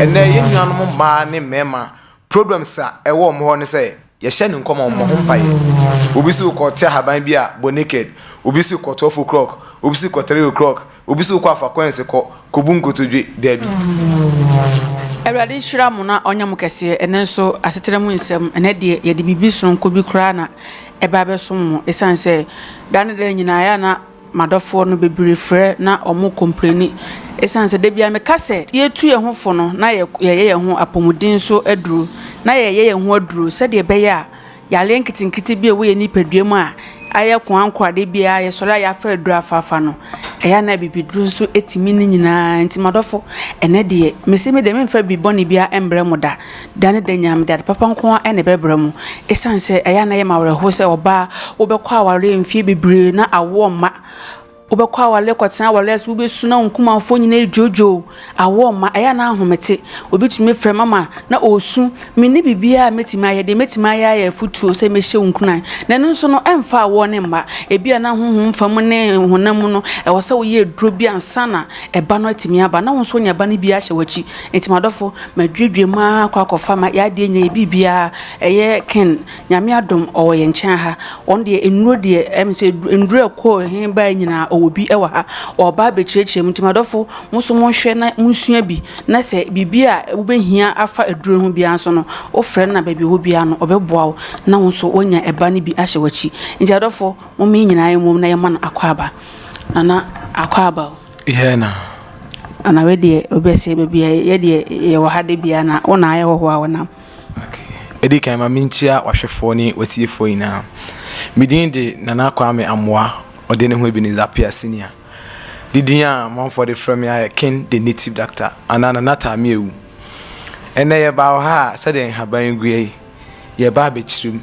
Ɛnnɛ yɛn nuanom mmaa ne mmarima problems a ɛwɔ wɔn hɔ ne sɛ yɛhyɛ no nkɔmɔ mmɔ ho mpaeɛ. Obi si kɔ te ahaban bi a bɔ naked, obi si kɔ 12 o'clock, obi si kɔ 3 o'clock, obi si kɔ afa coins kɔ kɔ bu nkotodwe, daabi. Awurade nhyira mo na ɔnyɛ mo kɛseɛ ɛnɛ nso asetena mu nsɛm ɛnɛ deɛ yɛde biribi sononko bi koraa na ɛba abɛsom mo ɛsiane sɛ da ne da nyinaa yɛ a na M'adɔfoɔ no bebree frɛ na wɔn kompleni esiane sɛ dabiara meka sɛ yɛretu yɛn ho fo no na yɛyɛ yɛn ho apɔmuden so aduro na yɛyɛ yɛn ho aduro sɛdeɛ ɛbɛyɛ a yareɛ nketenkete bi a ɛwɔ yɛn nipadua mu a ayɛ ko ankora dabiara yɛsɔre a yɛafa aduro afaafa no ɛyɛ na abibiduro nso tumi ne nyinaa nti m'adɔfo ɛnɛ deɛ mese me deɛ memfa bi bɔne biara mbrɛ mo da Da ne da nyinaa mede ade papa nko ara na ɛbɛbrɛ mo. Esiane sɛ ɛyɛ a na ɛyɛ me awerɛhow sɛ ɔbaa a wobɛkɔ awareɛ mfeɛ bebree na awoɔ mma, wobɛkɔ awareɛ kɔtena awareɛ ase, wobɛsu na wo nkumanfoɔ nyinaa redwoodwoo, awoɔ mma, ɛyɛ a na ahomete. Obi tumi frɛ mama na ɔresu. Menni biribiara a mɛtumi ayɛ. Deɛ mɛtumi ayɛ ara yɛ afotuo sɛ mɛhyɛ wo nkuran. Na ɛno nso no, ɛmfa awoɔ no mma. Ebia na honhom fam ne honam mu no, ɛwɔ sɛ woyɛ aduro bi ansa na Ɛba no atumi aba na wo nso woanya ba no bi ahyɛ w'akyi. Enti m'adɔfo, maduadua mu ara akɔ akɔfa ma y'adeɛ nyinaa, yɛ biribiara. Ɛyɛ Ken, Nyame adom ɔwɔ yɛn nkyɛn ha. Wɔn deɛ nnuro deɛ, ɛm sɛ nnuro a ɛkɔɔ he baeɛ nyinaa ɔwɔ bi wɔ ha. Ɔreba abɛkyerɛkyerɛ mu. Enti m'adɔfo, mo nso monhwɛ na monsua bi. Na sɛ biribi a wobɛhia afa aduro ho biara nso no, wofrɛ no na baabi a ɔwɔ biara no, ɔbɛboa wo na wo nso woanya ba no bi ahyɛ w'akyi. Enti adɔfo, momma yɛ nyinaa mmom na yɛmma no akwaaba. Nana Akwaaba o. Yɛ na. Ana wei deɛ obi ɛsɛ baabi a yɛ deɛ yɛwɔ ha de bia na wo na ayɛ hɔhoɔ a wɔnam. Ɛdi kan ma menkyia wahwɛfoɔ ne watiefoɔ nyinaa. Me din de Nana Kwame Amoah ɔde ne ho Ebenezer Appiah Senior. Ne din a amanfoɔ de frɛ me ara yɛ King the Native Doctor anaa Nana Taameawu. Ɛnnɛ yɛbaa wɔ ha a sɛdeɛ nhaban yi guɛ yi, yɛba abɛkyerem.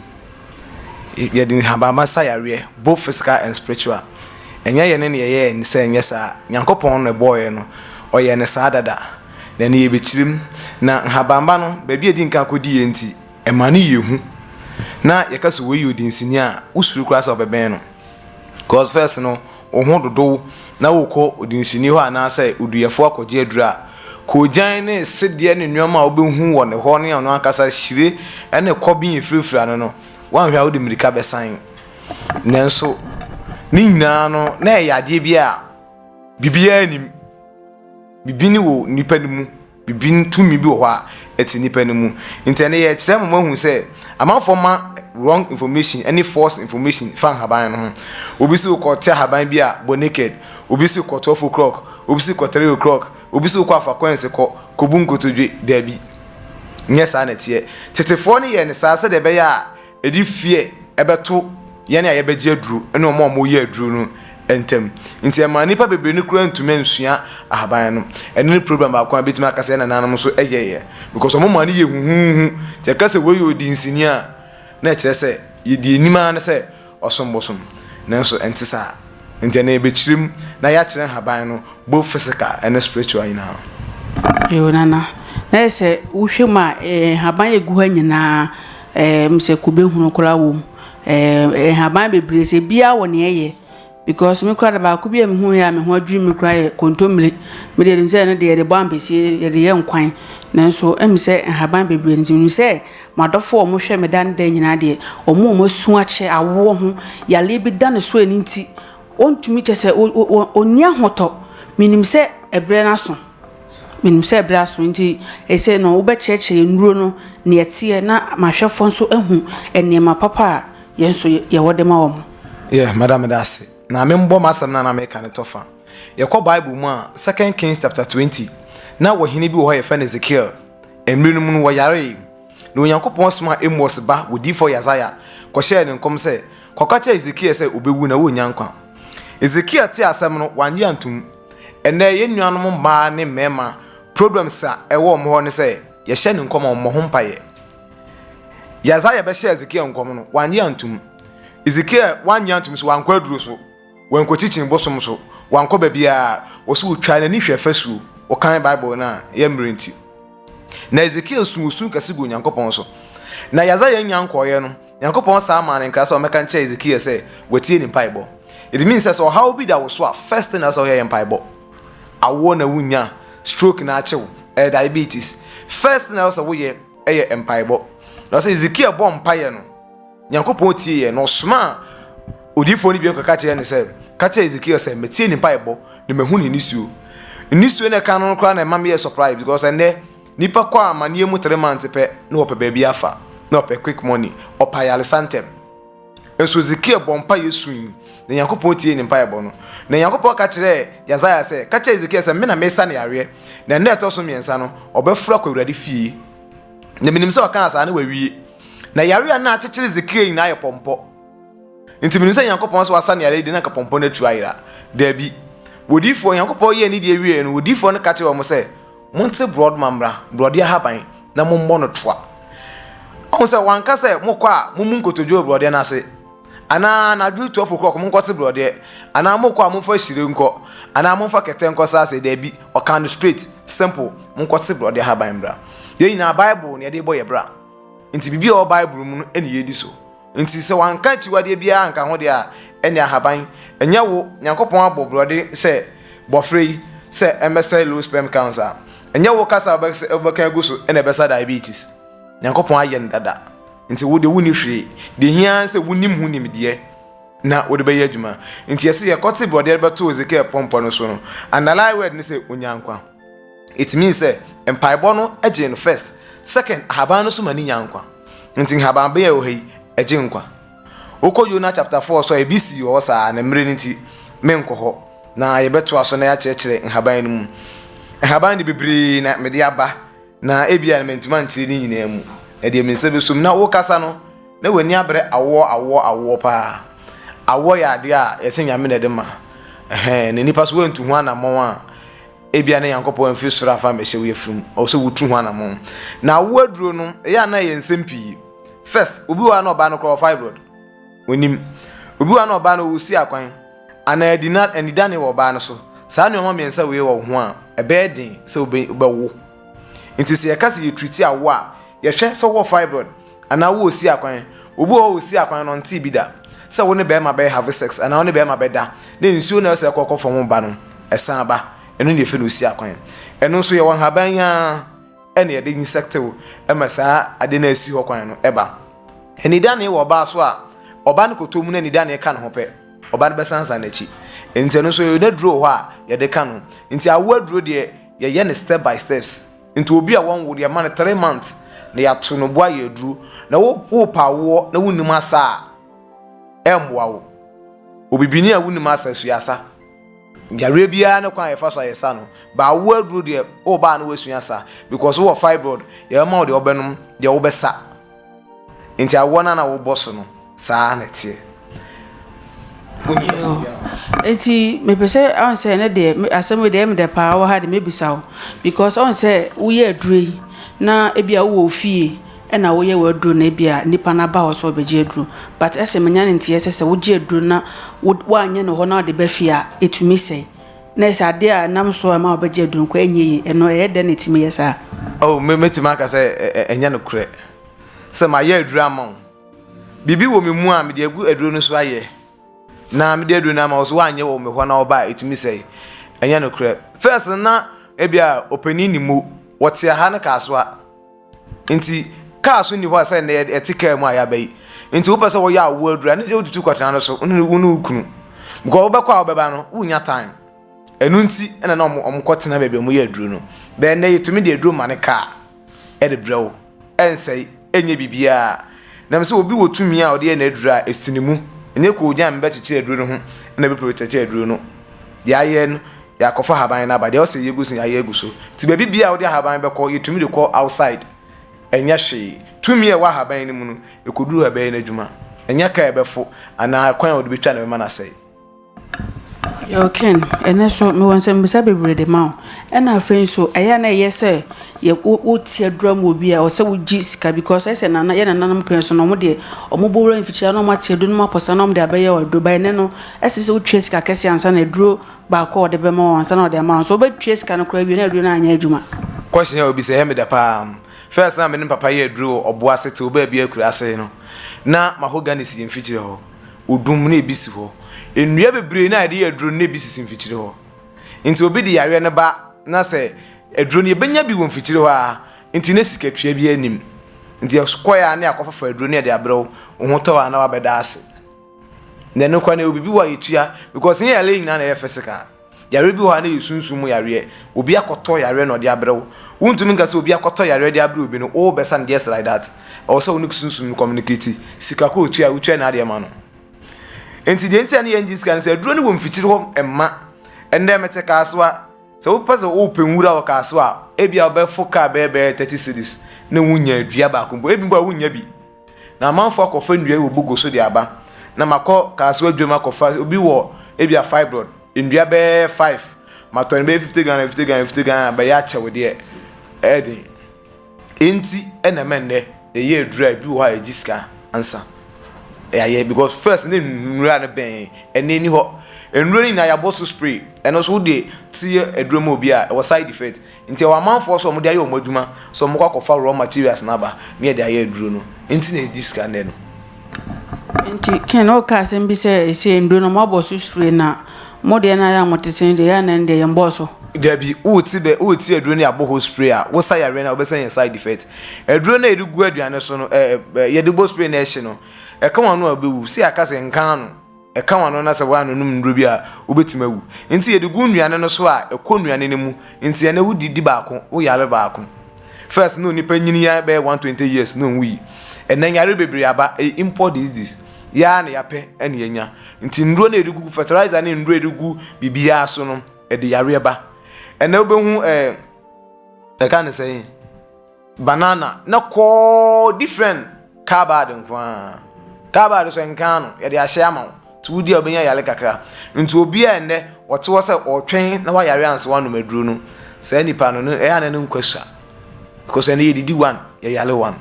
yɛde nhabamma sa yareɛ both physical and spiritual ɛnyɛ yɛne na yɛyɛɛ ne sɛ ɛnyɛ saa Nyankopɔn na ɛbɔɔyɛ no ɔyɛɛ no saa dada na ɛne yɛbɛkyirem na nhabamma no baabi a ɛdinkan kɔdiiɛ nti ɛma no yɛ hu na yɛka sɛ wei yɛ odinsini a wosuro koraa sɛ wobɛbɛn no. Cause first no wo ho dodow na wokɔ odunsini hɔ anaasɛ oduyɛfo akɔgye aduru a, koogyan ne sedeɛ ne nnoɔma a wobɛhu wɔ ne hɔ ne ɔno ankasa hyire ne kɔben a ɛfirafira no no, woanhwɛ a wode mmirika bɛsan. Nanso ne nyinaa no na ɛyɛ adeɛ bi a biribiara nnim. Biribi ne wɔ nnipa no mu. Bibin tumi bi wɔ hɔ a ɛte nnipa no mu. Nti ɛnnɛ yɛrekyerɛ mo moahu sɛ amanfoɔ ma wrong information ne false information fa nhaban no ho. Obi se wokɔ te ahaban bi a bɔ naked, obi se kɔ twelve o'clock, obi se kɔ three o'clock, obi se wokɔ afa coins kɔ, kɔbu nkotodwe. Daabi, nyɛ saa na ɛteɛ. Tetefoɔ no yɛɛ no saa sɛdeɛ ɛbɛyɛ a Ɛde fear bɛto yɛn a yɛbɛgye aduro ne wɔn a wɔreyɛ aduro no ntam. Nti ɛmaa nnipa bebree no koraa ntumi nsua ahaban no. Ɛno ne problem baako a bɛtumi aka sɛ yɛn nananom nso yɛeɛ because wɔn maa no yɛ huhuuhu. Nti yɛka sɛ wei yɛ odinsini a, na ɛkyerɛ sɛ yɛdi anim ara ne sɛ ɔsom bosom. Nanso ɛnte saa. Nti ɛnɛ yɛbɛkyerɛ mu na yɛakyerɛ nhaban no both physical ne spiritual nyinaa. Yo nana na yɛ sɛ wohwɛ mu a nhaban a ɛgu hɔ nyinaa. Ɛɛm sɛ kube hunu koraa wɔ mu. Ɛɛm nhaban bebree sɛ biara wɔ nea ɛyɛ. Because me koraa de baako bi a mehu yɛ a me ho adwiri me koraa yɛ kontomire. Me deɛ nim sɛ ɛno deɛ yɛde bɔ ampesie yɛde yɛ nkwan. Nanso ɛmu sɛ nhaban bebree nti nim sɛ m'adɔfo a wɔhwɛ me da ne da nyinaa deɛ wɔn a wɔasu akyɛ awoɔ ho yareɛ bi da ne so ɛno nti ɔntumi kyɛ sɛ ɔnni ahotɔ. Menim sɛ ɛbrɛ no aso. Menim sɛ berɛ aso, enti seesei no wobɛkyerɛkyerɛ yɛn nnuro no, nea ɛteɛ, na ma ahwɛfoɔ nso ahu nneɛma papa a yɛn nso yɛwɔ de ma wɔn. Yeah, mɛda meda ase. Na membɔ m'asɛm no a na mereka no tɔ fa. Yɛkɔ Bible mu a, Second Kings chapter twenty, na ɔhene bi wɔ hɔ a yɛfrɛ no Ezekiel. Mmere no mu no, ɔyaree. Na Onyankopɔn somaa Amos ba odiyifoɔ Yesaia kɔhyɛɛ no nkɔm sɛ, Kɔka kyerɛ Ezekiel sɛ ɔbɛwu na ɔrennya nkwa. Ezekiel tee asɛm no, wannye antom. Ɛnnɛ yɛn nuanom mmaa ne mmarima problems a ɛwɔ wɔn hɔ ne sɛ yɛhyɛ ne nkɔm a wɔmmɔ ho mpaeɛ. Yasaia bɛhyɛ Ezekiel nkɔm no wanye antum. Ezekiel wanye antum so wankɔ aduro so, wankɔkyikyin bosom so, wankɔ baabiara. Wɔso wɔtwaa n'ani hwɛ fasuo, wɔkan Bible no a ɛyɛ mmerɛ nti. Na Ezekiel su osu kɛse gu Onyankopɔn so. Na Yasaia nnya nkɔeɛ no, Nyankopɔn san maa no nkra sɛ ɔmmɛka nkyerɛ Hezekiel sɛ watie ne mpaebɔ. It means sɛ sɛ ɔhaw bi da wo so a, first thing na sɛ ɔyɛ yɛ mpaebɔ. Awoɔ na wunya, stroke na akye wo, ɛyɛ diabetes. First thing na sɛ woyɛ ɛyɛ mpaebɔ. Na sɛ Hezekiel bɔ mpaeɛ no, Nyankopɔn tie yɛ na ɔsomaa odiifoɔ no bio kɔka kyerɛ no sɛ, ka kyerɛ Hezekiel sɛ matie ne mpaebɔ na mahu ne nisuo. Nisuo na ɛka no koraa na ɛma meyɛ surprise because ɛnɛ Nipa kɔ amaneɛ mu three months pɛ na ɔpɛ baabi afa na ɔpɛ quick money ɔpɛ ayaresa ntɛm nso Ezekiel bɔ mpaeɛ sui na Nyankopɔn tiee ne mpaebɔ no na Nyankopɔn ka kyerɛɛ Yasaia sɛ ka kyerɛ Ezekiel sɛ me na mesa no yareɛ na ɛna ɛtɔ so mmiɛnsa no ɔbɛforo akɔ Awurade fie na menim sɛ ɔkaa saa na wawie na yareɛ a na akyekyere Ezekiel nyinaa yɛ pɔmpɔ nti menim sɛ Nyankopɔn sɛ wasa no yareɛ de na nka pɔmpɔ no atu ayera daabi wɔdiifoɔ Nyankopɔn yɛɛ ne deɛ wieɛ no wɔdiifoɔ no ka kyerɛ wɔn sɛ Monte borɔdoma mmra, borɔdeɛ ahaban, na mommɔ no toa. Ɔhu sɛ wanka sɛ mokɔ a mommu nkotodwe wɔ borɔdeɛ no ase, anaa anadwo 12 o'clock monkɔte borɔdeɛ, anaa mokɔ a momfa hyire nkɔ, anaa momfa kɛtɛ nkɔ saa sɛ daabi, ɔkaa no straight, simple, monkɔte borɔdeɛ ahaban mmra. Yɛn nyinaa Bible na yɛde bɔ yɛn bra, nti biribi a ɛwɔ Bible mu no na yɛdi so. Enti sɛ wɔanka akyiwadeɛ biara anka ho deɛ a, ɛnneɛ ahaban, ɛnyɛ wo, Nyankopɔn abɔ borɔde sɛ, bɔferɛ yi, sɛ ɛmmɛsɛe low sperm counts a, ɛnyɛ wo kasa a wobɛka agu so na ɛbɛsa diabetes. Nyankopɔn ayɛ no dada. Enti wo deɛ wonni hwee. Deɛ ɛhia ara ne sɛ wonim ho nimdeɛ na wode bɛyɛ adwuma. Enti ɛse yɛkɔte borɔdeɛ de bɛtoo Ezekiel pɔmpɔ no so no, underline word ne sɛ, Onyankwa. it means sɛ mpaebɔ no gye no first second ahaban no so ma ne nya nkwa nti nhaban bɛyɛ wɔ ha yi ɛgye nkwa wokɔ Yona chapter 4 so a ebi si wɔ hɔ saa na mmerɛ no nti menkɔ hɔ na yɛbɛtoa so na yɛakyerɛkyerɛ nhaban no mu nhaban de bebree na mede aba na ebi a na mantuma nkyerɛ ne nyinaa mu na deɛ me nsa bɛso mu na wokasa no na w'ani abrɛ awoɔ awoɔ awoɔ paa awoɔ yɛ adeɛ a yɛsɛ nyame na ɛde ma ɛhɛn na nipa so wantu ho anammɔn a ebia na nyankopɔn amfiri soro amfa ammɛhyɛ wo yafunu mu ɔwɔ sɛ wotu ho anamɔn na awo aduro no ɛyɛ a na ɛyɛ nsɛm pii first obi wɔ a na ɔbaa no korɔ fibroid onim obi wɔ a na ɔbaa no ɔwɔ si akwan anaa adina anidane wɔ ɔbaa no so saa nneɛma mmiɛnsa wei wɔ wo ho a ɛbɛyɛ den sɛ wobɛwo nti sɛ yɛka sɛ yɛtriti awo a yɛhwɛ sɛ wɔ fibroid Anaa wo osi akwan. Obi wɔ hɔ a osi akwan no ɔntee bi da sɛ wo ne bɛrima bɛ have sex anaa wo ne bɛrima bɛda na nsuo no a ɛsɛ kɔ kɔfam no ba no ɛsan ba. Ɛno na yɛfrɛ no osi akwan. Ɛno nso yɛwɔ nhaban yi ara ɛna yɛde insectew ɛma saa ade no a ɛsi hɔ kwan no ɛba. Anidanee wɔ ɔbaa so a, ɔbaa no kɔtɔ mu na anidanee ka ne ho pɛ, ɔbaa no bɛsansan n'akyi. Nti ɛno nso yɛwɔ n'aduro wɔ hɔ a yɛde ka no. Nti awoɔ aduro deɛ yɛyɛ no step by steps. Nti obi a wɔnwo no yɛma no three months na yɛato no bo ayɛ aduro na wo wopa awoɔ na wonim asa a ɛmmoa wo obibini a wonim asa sua asa yareɛ biara ne kwan a yɛfa so a yɛsa no ba awoɔ aduro deɛ woba a na woasua asa because wowɔ fibroid yɛbɛma wo deɛ wobɛnom deɛ wobɛsa Nti awoɔ no a na wobɔ so no saa ara na ɛteɛ? Wonni ɛsɛ biara wɔ ha. Nti mepɛ sɛ ɔn sɛ ɛnɛ deɛ asɛm wei deɛ ɛyɛ me dɛ paa wɔ ha deɛ mɛbisa wo because ɔn sɛ woyɛ aduro yi na ebia wowɔ wo fie ɛna woyɛ w'aduro na ebia nipa no aba hɔ sɛ ɔbɛgye aduro but ɛsɛ menya ne nteɛ sɛ sɛ wogye aduro na woanyɛ no hɔ na wode ba fie a ɛtumi sɛe. Na sɛ adeɛ a ɛnam so a ɛma wɔbɛgye aduro nkwa nyɛ yie, ɛno ɛyɛ dɛn na ɛtumi yɛ saa? Oh, me, mɛtumi aka sɛ ɛ, ɛ, ɛnyɛ nokorɛ sɛ mayɛ aduro ama wo. Biribi wɔ me mu a mede agu aduro no so ayɛ, na mede aduro no ama wo so woanyɛ wɔ me hɔ na wɔba a ɛtumi sɛe. Ɛnyɛ nokorɛ. First no na ebia ɔpanin nim o, wɔte aha no kaasoa. Nti kaa so nni hɔ a sɛ nnɛ yɛte kaa mu a yɛaba yi. Nti wopɛ sɛ wɔyɛ awoɔ aduru a ne sɛ wotutu kɔtena no so wone wo ne wo kunu. Because wobɛkɔ a wobɛba no wonnya time. Ɛno nti ɛna na ɔmo ɔmo kɔtena baabi a ɔmo yɛ aduro no. Bɛɛ nnɛ yɛtumi de aduro ma ne kaa ɛde brɛ wo. Ɛnsɛe, ɛnyɛ biribiara. Nam sɛ obi wɔ tumi a ɔde yɛ n'aduro a ɛsi ne mu. Ɛnyɛ koogyan bɛkyekyere aduro no ho ɛna bɛprotɛte aduro no. Deɛ ayɛ no Yɛakɔfa ahaban no aba, deɛ ɔsɛ yɛgu so no yɛayɛ agu so. Nti baabi biara a wode ahaban bɛkɔ, yɛtumi de kɔ outside. Ɛnyɛ hwee. Tumi a ɛwɔ ahaban no mu no, ɛkɔduru hɔ a ɛbɛyɛ n'adwuma. Ɛnyɛ kaa a ɛbɛfo anaa kwan a wode bɛtwa na ɛbɛma no asɛe. Yo Ken, ɛnnɛ nso mewɔ nsɛmmisa bebree de ma wo. Ɛna afei nso, ɛyɛ a na ɛyɛ sɛ yɛ wo wote adura mu wɔ bi a, ɛwɔ sɛ wogye sika because ɛyɛ sɛ nana yɛ nananom pɛn so no, wɔn deɛ wɔn bɔ wura mfikyire na wɔn ate aduro no mu apɔsa na wɔn de abɛyɛ aduro. Ba ɛnnɛ no, ɛsɛ sɛ wotwa sika kɛse ansa na aduro baako a ɔde bɛma wo ansa na ɔde ama wo nso wobɛtua sika no koraa awie na aduro no anyɛ adwuma. Question a obisa yɛ me dɛ paa. First na me ne papa yɛ aduro wɔ ɔbo ase tse ɔbaabi akuraase no na mahogany si yɛ mfikyire hɔ, odum na ebi si hɔ. Nnua bebree na yɛde yɛ aduro no na ebi sisi mfikyire hɔ. Nti obi de yareɛ no ba na sɛ aduro no yɛbɛnya bi wɔ mfikyire hɔ a nti na sikatua biara nnim. Nti yɛkɔeɛ a na yɛakɔfafa aduro no na yɛde abrɛ wo, wo ho tɔ wo a na wabɛda ase. Nɛ no kora no obibi hɔ a yɛtua because nyɛ yare nyina na ɛyɛ physical yare bi hɔ a na yɛ sunsum mu yareɛ obi akɔtɔ yareɛ na ɔde abrɛ wo wontumi nka sɛ obi akɔtɔ yareɛ de abrɛ obi no wo bɛsa no just like that ɛwɔ sɛ wo ne sunsum no communicate sika kɔ otua wotua na adeɛ ma no nti deɛ ntia ne yɛn gye sika no sɛ aduro no wɔ mfikyiri hɔ mma ɛnna mɛte kaasoa sɛ wopɛ sɛ wopɛ nwura wɔ kaasoa ebi a wobɛfo kaa bɛyɛ bɛyɛ thirty cities na wonya dua baako mpo ebi mpo a wonya bi Na amanfoɔ akɔfa nnua yi wɔ bogo so de aba, na makɔ Kasewa dwam akɔfa obi wɔ ebia fibroid nnua bɛyɛ five, matɔ no bɛyɛ fifty Ghana, fifty Ghana, fifty Ghana, bɛyɛ akyɛw deɛ ɛyɛ den. Enti ɛna ɛma nnɛ yɛyɛ aduru a ebi wɔ hɔ a yɛgye sika ansa yɛayɛ because first ne nnura no bɛn ɛna ɛni hɔ. Nnuro no nyinaa yɛabɔ so spray, ɛno nso wode te aduro ma obi a ɛwɔ side effect. Nti ɛwɔ amanfoɔ so a wɔde ayɛ wɔn adwuma sɛ wɔkɔ akɔfa raw materials no aba ne yɛde ayɛ aduro no nti na ɛgye sika nnɛ no. Nti Ken woka asɛm bi sɛ ɛsɛ nnuro no moabɔ so sure na mo deɛ no ayɛ a mote sɛ no deɛ yɛ anɛ no deɛ yɛn bɔɔ so. Dabi wote bɛ wote aduro no yɛabɔ ho spray a wosa yareɛ no a wobɛsa nya side effect aduro no a yɛde gu aduane so no ɛɛ yɛde bɔ spray no ɛhye no ɛka wano a wobɛwu sɛ yɛaka sɛ nka ano. Ɛka w'ano na sɛ woannonom nnuro bi a, wobɛtumi awu. Enti yɛde gu nnuane no so a, ɛkɔ nnuane no mu. Enti ɛnnɛ wodi di baako, woyare baako. First na onipa nyini yɛ ara bɛyɛ 120 years na onwui. Ɛnnɛ nyare bebree aba, ɛyɛ import diseases. Yɛ ara na yɛapɛ na yɛanya. Enti nnuro no a yɛde gugu fertilizer ne nnuro a yɛde gu biribiara so no, ɛde yareɛ ba. Ɛnnɛ wobɛhu eh, yɛka no sɛn? Banana ne kɔɔ different carbad nko ara carbad sɛ nka ano yɛde ahyɛ ama wo nti wodi a wobɛnya yare kakra nti obi a ɛnɛ ɔte hɔ sɛ ɔretwɛn na wayare ansa wanom aduro no saa nipa no no ɛyɛ na ne nkwa sua because ɛnɛ yɛdidi one yɛyare one.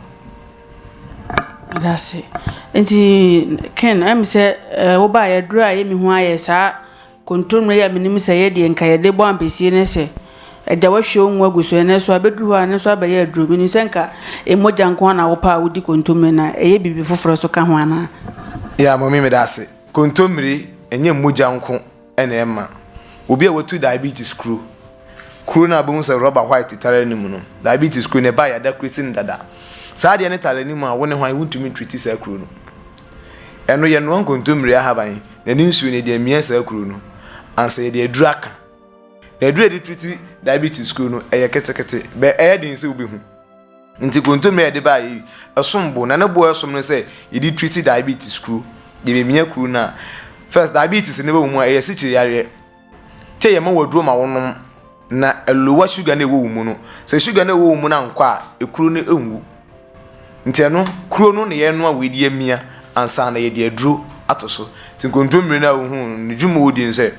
Adase nti Ken ɛm sɛ wobaeɛ aduro a ɛyɛ me hu ayɛ saa. Kontomire a menim sɛ ɛyɛ deɛ nka yɛde bɔ ampesie ne sɛ agya wahwie wo ngo agu so ɛnɛ so abɛduru hɔ a ɛno nso abɛyɛ aduro menim sɛ nka mogya nko na wopɛ a wodi kontomire na ɛyɛ biribi foforɔ nso ka ho anaa Yeah mami meda ase kontomire ɛnyɛ mogya nko ɛna ɛma obi a watu diabetes kuro kuro no a bɛhu sɛ rɔba white tare anim no diabetes kuro no ɛba yɛada kureti no dada saa adeɛ no tare anim a wo ne hwan wontumi ntriti saa kuro no Ɛno yɛnoa nkontommire ahaban na ne nsuo no yɛde amia saa kuro no ansa yɛde aduro aka. Na aduro a yɛde treat diabetes kuro no ɛyɛ ketekete bɛ ɛyɛ den sɛ wobɛhu. Nti kontommire a yɛde baeɛ yi ɛsom bo na ne boɔ ɛsom no sɛ yɛde treat diabetes kuro. Yɛbɛmia kuro no a first diabetes no bɛwɔ mu a ɛyɛ asikyire yareɛ. Tee yɛma wo aduro ma wo nom na ɛlowa sugar no ɛwɔ wo mu no. Sɛ sugar no ɛwɔ wo mu no ankɔ a, ekuro no ɛnwu. Nti ɛno, kuro no na yɛnoa wei de amia ansa na yɛde aduro ato so. Nti nkontommire no a wohuu no, ne dwuma ɔdi no sɛ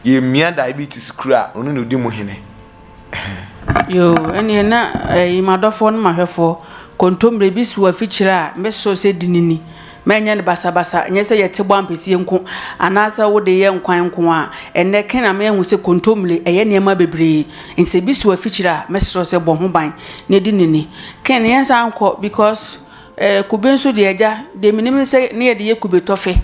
yɛmia diabetes kuro a ɔno na ɔdi mu hene. Yoo ɛneɛ na ɛyi m'adɔfoɔ no m'ahwɛfoɔ kontomire bi so afikyire a meso sɛ di no ni mɛnyɛ no basabasa nyɛ sɛ yɛte bɔ ampesie nko anaasɛ wode yɛ nkwan nko a ɛnɛ kɛn na mehu sɛ kontomire ɛyɛ nneɛma bebree nti sɛ bi so afikyire a mɛsrɛ sɛ bɔ ho ban na di no ni kɛn yɛnsan nkɔ because. Ɛɛ kube nso deɛ agya deɛ menim ne sɛ ne yɛde yɛ kube tɔfe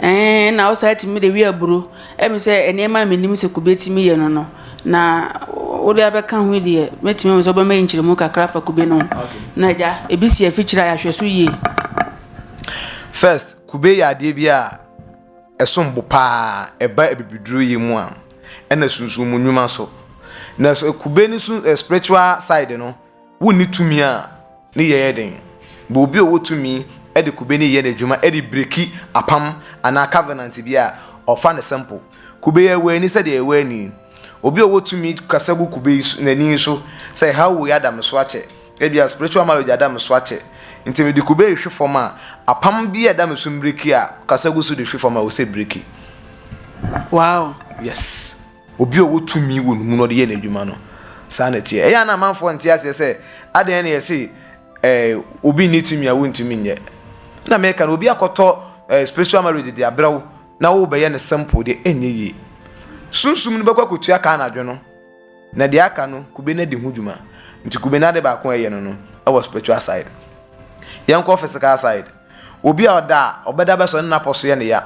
ɛɛ na wosan tumi de wɛ aburo ɛmi sɛ nneɛma a menim sɛ kube tumi yɛ no no na wode abɛka ho yi deɛ mɛtumi ahu sɛ wobɛma yɛ nkyerɛmu kakra afa kube no na agya ebi si afikyire a yɛahwɛ so yie. First, kube yɛ adeɛ bi a ɛsom bo paa ɛba abibiduro yɛ mu a ɛna sunsun mu nnwuma so na kube no so spiritual side no. Wonni tumi a ne yɛ yɛ den. Bɔ obi a ɔwɔ tumi de kube no yɛ no adwuma de breki apam anaa covenant bi a, ɔfa no simple. Kube yɛ wɔ ani sɛdeɛ ɛwɔ ani. Obi a ɔwɔ tumi kasa gu kube yi so, n'ani so sɛ, ha woi ada me so akyɛ. Ebia spiritual marriage ada me so akyɛ. Nti mede kube rehwe fam a, apam bi a ɛda me so mbreki a, ɔkasa gu so de hwe fam a, ɔsɛ breki. Wow. Yes. Obi a ɔwɔ tumi wɔ ne mu na ɔde yɛ n'adwuma no, saa na ɛteɛ. Ɛyɛ a na amanfoɔ nte aseɛ sɛ, adɛn na yɛse eh, obi nni tumi a wontumi nyɛ. Na meka no, obi akɔtɔ eh, spiritual marriage de abrɛ wo na wobɛyɛ no simple deɛ ɛnyɛ yie. Sunsum no bɛkɔ akɔtua ka anadwo no, na deɛ aka no kube no adi ho dwuma. Nti kube no ade baako a ɛyɛ no no ɛwɔ spiritual side. Yɛnkɔ physical side. Obi a ɔda a ɔbɛda bɛsɔ ne napɔ so yɛ ne ya.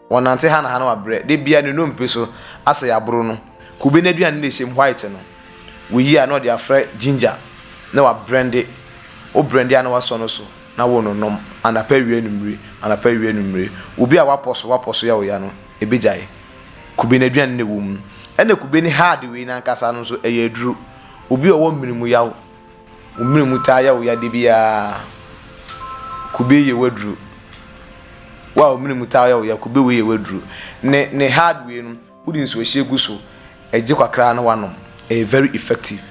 Wɔnante ha na ha na wabrɛ. Da biara ne nnompe so asɛ yɛaboro no. Kube n'aduane na ɛhyɛ mu white no. Woyi a na ɔde afra ginger na wabrɛnde. Wo brɛnde a na wasɔ no so na wononom anapa awia anwummere, anapa awia anwummere. Obi a wapɔ so wapɔ so yɛ wo ya no, ɛbɛgyae. Kube n'aduane na ɛwɔ mu. Ɛna kube ne hard wei no ankasa no nso ɛyɛ aduro. Obi a ɔwɔ mene mu yaw. Wo mene mu taa yɛ wo ya de biara. Kube yɛ waduru. Wo a wo mene mu taa yɛ wo ya, kube wei yɛ waduru. Ne ne hard wei no, wode nsuohyɛ gu so, ɛgye kakra na wanom. Ɛyɛ very effective.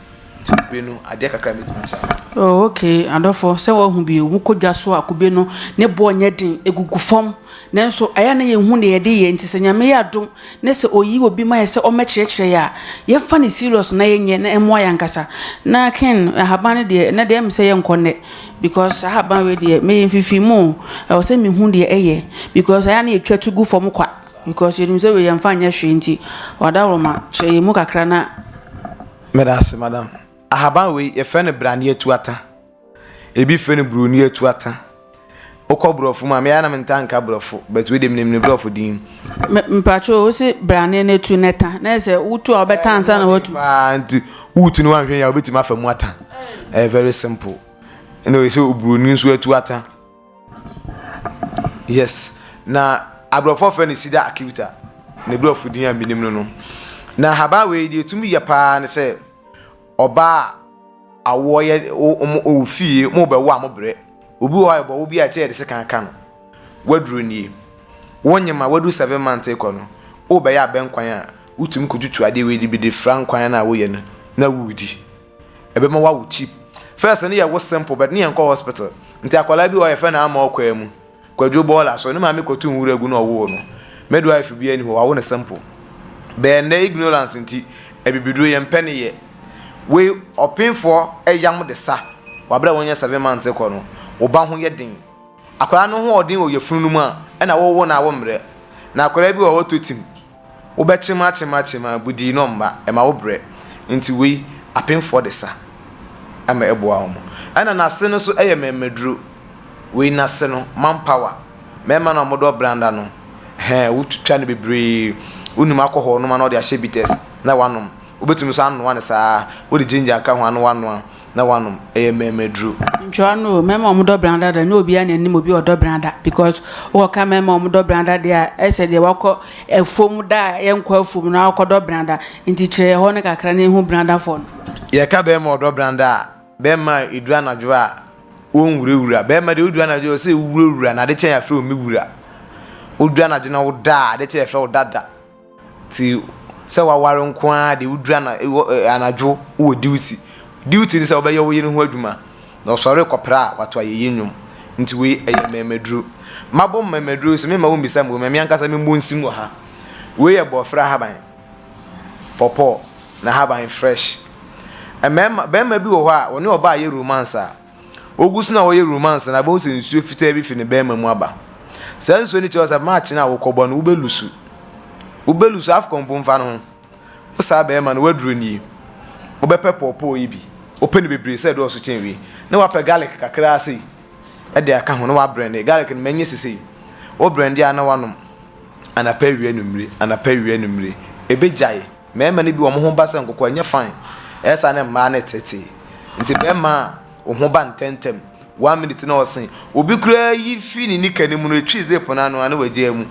Ti kube no, adeɛ kakra mɛtumi akyɛ afa. Oh, okay, adɔfo, sɛ wɔahu bi o, wokɔ dwa so a kube no, ne boɔ nyɛ den, egugu fam. Nanso ɛyɛ na yɛnhu deɛ yɛde yɛ, nti sɛ Nyame yɛ adom na sɛ oyi obi ma yɛ sɛ ɔmmɛkyerɛkyerɛ yɛ a, yɛmfa no serious na yɛnyɛ na ɛmmoa yɛn ankasa. Na Ken, ahaban no deɛ, ɛnnɛ deɛ ɛyɛ me sɛ yɛnkɔ nnɛ because saa ahaban wei deɛ, meyɛ mfifiri mu o, ɛwɔ sɛ mehu deɛ ɛyɛ because ɛyɛ a na yɛtwa tu gu fam kwa because yɛnim sɛ wei yɛmfa nyɛ hwee nti, Ɔdawuroma, kyerɛ yɛn mu kakra na. Meda ase, madam. Ahaban wei, yɛfrɛ no braneɛ tuata. Ebi frɛ no buroni atuata. Wokɔ borɔfo mu a, me ara na mentaa nka borɔfo, but wei deɛ menim ne borɔfo din. Me- mpakyɛw wo se brane no atu na ɛta na ɛsɛ wotu a wobɛta ansa na watu Paa nti wotu no wanhwɛ yɛ a wobɛtumi afa mu ata. Ɛyɛ very simple. Ɛna ɔyɛ sɛ oburoni nso atu ata. Yes. Na aborɔfoɔ frɛ no cedar acuta. Ne borɔfo din a menim no no. Na ahaban wei deɛ ɛtumi yɛ paa ne sɛ Ɔbaa a awoɔ yɛ wɔn ɔwɔ fie mu rebɛwo a mobrɛ. Obi wɔ hɔ a yɛbɛwo bi a kyɛ yɛde sekan aka no. Waduro nie. Wonyem a wadu seven months rekɔ no, worebɛyɛ abɛnkwan a, wotumi kɔtutu adeɛ wei de bi de fira nkwan no a woyɛ no na woredi. Ɛbɛma woawo cheap. First no yɛwo simple but ne yɛnkɔ hospital. Nti akwadaa bi wɔ hɔ a yɛfrɛ no ama ɔkwaa mu. Kwadwo bɔɔla so ne maame kɔto nwura gu na ɔwoo no. Midwife biaa nni hɔ, wawo no simple. Bɛɛ nnɛ ignorance nti abibiduro yɛmpɛ no yɛ. Wei ɔpenfoɔ yam de sa wo aberɛ a wonyɛ seven months rekɔ no, wo ba ho yɛ den. Akwadaa no hoɔden wɔ yafunu no mu a ɛna wowo no a wommrɛ. Na akwadaa bi wɔ hɔ ɔtɔ tim, Wobɛtem atem atem a, budii no mma, ɛma wo brɛ. Nti wei, apemfoɔ de sa ma ɛboa wɔn. Ɛna n'ase no nso yɛ mɛmɛduro. Wei n'ase no, man power. Mɛɛma no a wɔdɔ branda no, hɛɛ, wotwitwa no bebree. Wonim alcohol nom a na wɔde ahyɛ bitters na wɔanom. Wobɛtumi nso anoa no saa ara, wode ginger ka ho anoa noa. na wanom, ɛyɛ mmɛɛmaduru. Ntwerɛ no o mɛma ɔmo dɔ brada da nyɛ obiaa na ɛnim obi ɔdɔ brada because wokɔ ka mɛma ɔmo dɔ brada deɛ a ɛsɛ deɛ wakɔ afuom da a yɛ nkɔ afuom na wakɔ dɔ brada nti kyerɛ yɛ hɔ no kakra na yɛhu brada fɔ no. Yɛka bɛɛma ɔdɔ brada a bɛɛma a ɛduru anadwo a wɔn nwura wura bɛɛma deɛ woduru anadwo a ɔsɛ wowura wura na ade kyɛ yɛ afrɛ wo me wura woduru anadwo na woda a ade kyɛ yɛ frɛ wo dada. Ntsi sɛ wɔawar nko ara de, wodur ana ewɔ ɛ anadwo ewɔ duty. Duty no sɛ wɔbɛyɛ wo yer ho edwuma, na ɔsɔr kɔ pra a, ɔato ayɛyi ndwom. Ntsi wei yɛ mbɛɛmaduru. Mabɔ mbɛɛmaduru so, memma wommbisa mbom emi ankasa mobɔ nsim wɔ ha. Wei yɛ bɔɔfrɛ ahaban, pawpaw na ahaban fresh. Mbɛɛma bɛɛma bi wɔ hɔ a, wɔnye ɔbaa yɛ romance a, Ogu so na ɔyɛ romance no a, ibohu sɛ nsuo fitaa bi fi ne bɛɛma mu aba. Saa nsuo no kyerɛ sɛ match no a wokɔbɔ no, wobɛlusu. Wobɛlusu, Afcon mpo mfa no ho. Wo saa bɛɛma no, w'aduro nie. Wobɛpɛ pɔɔpɔɔ yi bi. Wopɛ no bebree sɛ ɛdɔɔso kyɛn wei. Na wapɛ garlic kakraa sei ɛde aka ho na wabrɛnde. Garlic no mɛnye sesei. Wobrɛnde a na wanom. Anapa awia anwummere, anapa awia anwummere. Ɛbɛgyae. Mmarima no bi wɔn ho ba sɛ nkɔkɔɔ ɛnyɛ fine ɛsane mmaa no tete nti barima a wo ho ba ntɛntɛm one minute na ɔse obi koraa yi fi ne nika no mu no ɛtwi zip no ano a na wagyaa mu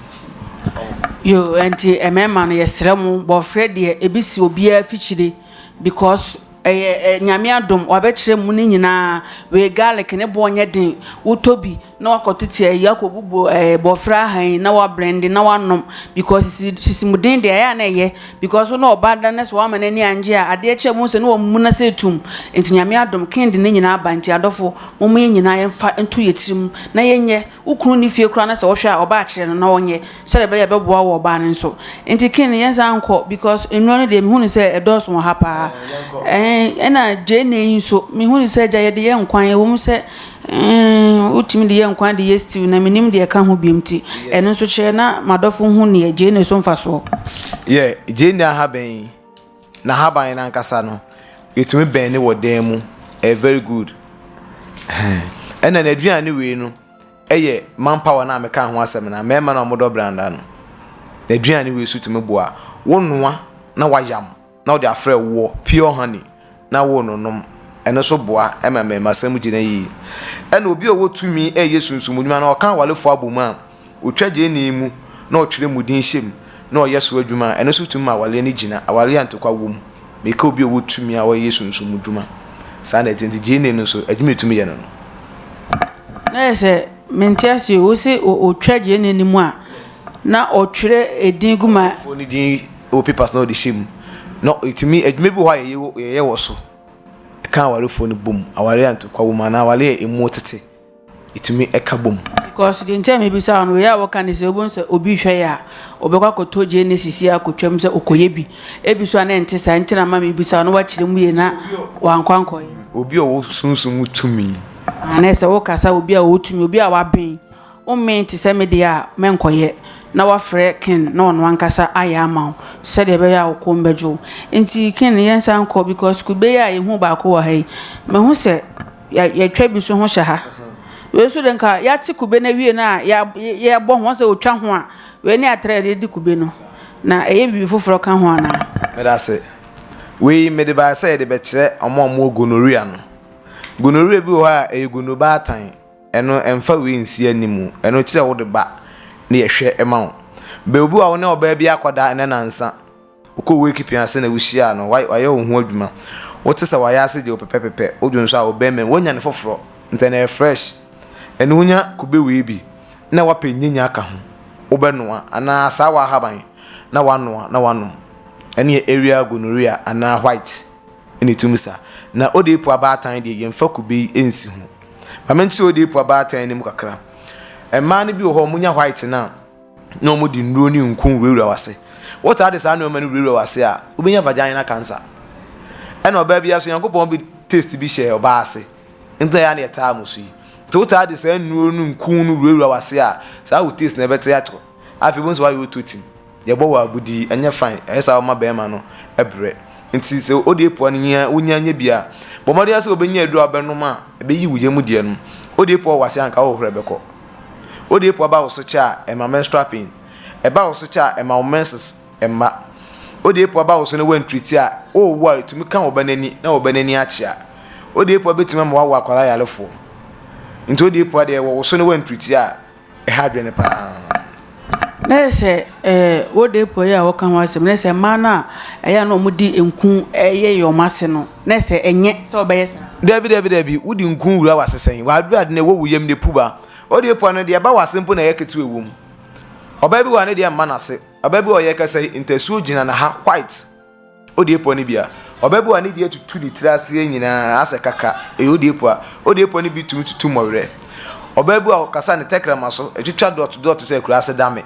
yo ɛnti mmarima no yɛsrɛ mo bɔfrɛ deɛ ebi si obiara fikyire because ɛyɛ nyame adom wabɛkyerɛ mu no nyinaa wei garlic ne boɔ nyɛ den wotɔ bi na wakɔtete ayi akɔbubu ɛɛ eh, bɔfra ahan na wabrɛnde na wanom because sisi sisi mu den deɛ ɛyɛ a na ɛyɛ because na ɔba da na sɛ wama n'ani angye a adeɛ kyɛ mu sɛ na wɔn mu na sɛ etum nti nyame adom ken de ne nyinaa aba nti adɔfo wɔn yɛ nyinaa yɛn fa nto yɛ tirim na yɛnyɛ wokunu ne fie koraa na sɛ wɔhwɛ a ɔba akyerɛ no na ɔnyɛ Sɛdeɛ ɛbɛyɛ a ɛbɛboa wo ɔbaa no nso. Nti Ken yɛnsan nkɔ because nnuro no deɛ mehu no sɛ ɛdɔɔso wɔ ha paa. Ɛna gyeene yi nso mehu no sɛ agya yɛde yɛ nkwan ɛwɔ mu sɛ wotumi de yɛ nkwan de yɛ stew na menim deɛ ɛka ho biom ti. Ɛno nso kyerɛ na madɔfo hu neɛ gyeene so mfasoɔ. Yɛ gyeene ahaban yi na ahaban no ankasa no yɛtumi bɛn ne wɔ dan mu ɛyɛ very good. Ɛna n'aduane wei no Ɛyɛ manpower no a mekaa ho asɛm no a, mmarima no a wɔdɔ branda no, aduane wei so tumi boa. Wonoa na woayam na wode afra woɔ, pure honey, na wononom. Ɛno nso boa ma mmarimasɛm gyina yie. Ɛna obi a ɔwɔ tumi reyɛ sunsum adwuma na ɔka awarefoɔ abom a, ɔtwa gyeene mu na ɔtwerɛ mu din hyɛ mu na ɔyɛ so adwuma a, ɛno nso tumi ma awareɛ no gyina, awareɛ a ntɔkwa wɔ mu. Meka obi a ɔwɔ tumi a ɔyɛ Yesu nso mu dwuma. Saa na ɛte. Nti Gene no nso, adwuma a ɛtumi yɛ no no. Na yɛ sɛ, mente ase o, wose ɔtwa Gene no mu a, na ɔtwerɛ edin gu ma. Foɔ no din wɔ paper so na ɔde hyɛ mu. Na ɛtumi, adwuma bi wɔ hɔ a yɛyɛ wɔ so. Ɛka awarefoɔ no bom. Awareɛ a ntɔkwa wɔ mu anaa awareɛ a ɛmu tete. etumi ka bɔ mu. Because deɛ nti a mebisa wo no wei a woka ne sɛ wobɛhu sɛ obi hwɛ yɛ a ɔbɛkɔ akɔtɔ Genesis yi akɔtwam sɛ ɔkɔyɛ bi ebi so a na ɛnte saa nti na ma mebisa wo na woakyerɛ mu yie na wankɔ ankɔyɛ obi a ɔwɔ sunsum mu tumi ah na ɛsɛ wokasa obi a ɔwɔ tumi obi a waben wommee te sɛ me deɛ a mɛnkɔyɛ na wafrɛ Ken na ɔno ankasa ayɛ ama wo sɛdeɛ ɛbɛyɛ a wo kɔn bɛdwo wo nti Ken yɛnsan nkɔ because kube yi a yɛhu baako wɔ ha yi mahu sɛ yɛ yɛtwa bi nso ho hyɛ ha wei nso deɛ nka yɛate kube no awie no a yɛbɔ ho sɛ wɔtwa ho a wei ne atrɛ a yɛde kube no na ɛyɛ biribi foforɔ ka ho anaa mede ase wei mede baeɛ sɛ yɛde bɛkyerɛ ɔmo a ɔmo gonorrhea no gonorrhea bi wɔ hɔ a ɛyɛ gonobaatan ɛno ɛmfa wei nsi anim ɛno kyerɛ wode ba ne yɛhwɛ ma wo bɛ obi wɔ wo ne ɔbaa bi akɔda ɛnɛ nansa Wokɔ Woekipi ase na wuhyia no, ɔayɛ wo ho edwuma. Wotse sɛ ɔayɛ ase gye wo pɛpɛpɛpɛ. Odwo nsu a, ɔbɛn mu, wonya no fofor, ntsɛ no yɛ fresh. Eno wonya kube wee bi na wɔapɛ nyinya aka ho, wobɛnoa, anaa asaawa ahaban na wɔanoa na wɔanom. Eno yɛ aerial gonorrhea anaa white na itum sa. Na odeepu abaatan deɛ yɛmmfa kube yi nnsi ho. Ma menkyerɛ odeepu abaatan no mu kakra. Mmaa no bi wɔ hɔ a wɔnya white no a, na wɔde nnuro ne nku wurawura w'ase. Wotaa de saa nneɛma no wurawura w'ase a, wobɛnya vaginal cancer. Ɛna ɔbaa bi aso, Nyankopɔn bi taste bi hyɛɛ ɔbaa ase, nti na ɛyɛ na ɛtaa mo so yi. Nti wotaa de saa nnuro no nku no wurawura w'ase a, saa wo taste no ɛbɛte atorɔ. Afei wobɛhu sɛ woayɛ ototim. Yɛbɔ wo abodin, ɛnyɛ fine, ɛyɛ saa woma bɛrima no brɛ. Nti sɛ wode epoa no hia wonya nyɛ bi a, bɔ mmɔden ara sɛ wobɛnya aduro a wobɛnom a ɛbɛyi wo yam deɛ no. Wode epoa wɔ w'ase a anka wohohoro ɛbɛkɔ. Wode epo aba wo so kyɛ a, ɛma menstrual pain. Ɛba wo so kyɛ a, ɛma wo menses mma. Wode epo aba wo so na woantreati a, worewo a, etumi ka wo ba no ani na wo ba no ani akyea. Wode epo abetumi ama woawo akwadaa yarefoɔ. Nti wode epo adeɛ wɔ wo so na woantreati a, ɛha adwene paa. Na ayɛ sɛ old day boy yi a ɔka ho asɛm no, na ayɛ sɛ mmaa no a ɛyɛ a na wɔde nku yeyɛ wɔn ase no, na ayɛ sɛ ɛnyɛ sɛ ɔbɛyɛ saa. Dabi dabi dabi wode nku wura wase sɛn wadwere ade na ɛwɔ wo yam ne puba old day boy no deɛ ɛba wase mpo na ɛyɛ ketewa ɛwɔ mu ɔbaa bi wɔ ha ne deɛ mma nase ɔbaa bi wɔ ha ɔyɛ kɛsɛe ntasuo gyina ne ha white. Odiepɔ no bi a, ɔbɛbɔ a ne deɛ tutu ne tiri aseɛ nyinaa asɛ kaka, ɛyɛ odiepɔ a. Odiepɔ no bi tumi tutu mmɔwerɛ. Ɔbɛbɔ a ɔkasa ne tɛkrɛma so, ɛtwitwa dɔt dɔt sɛ akuraase dame.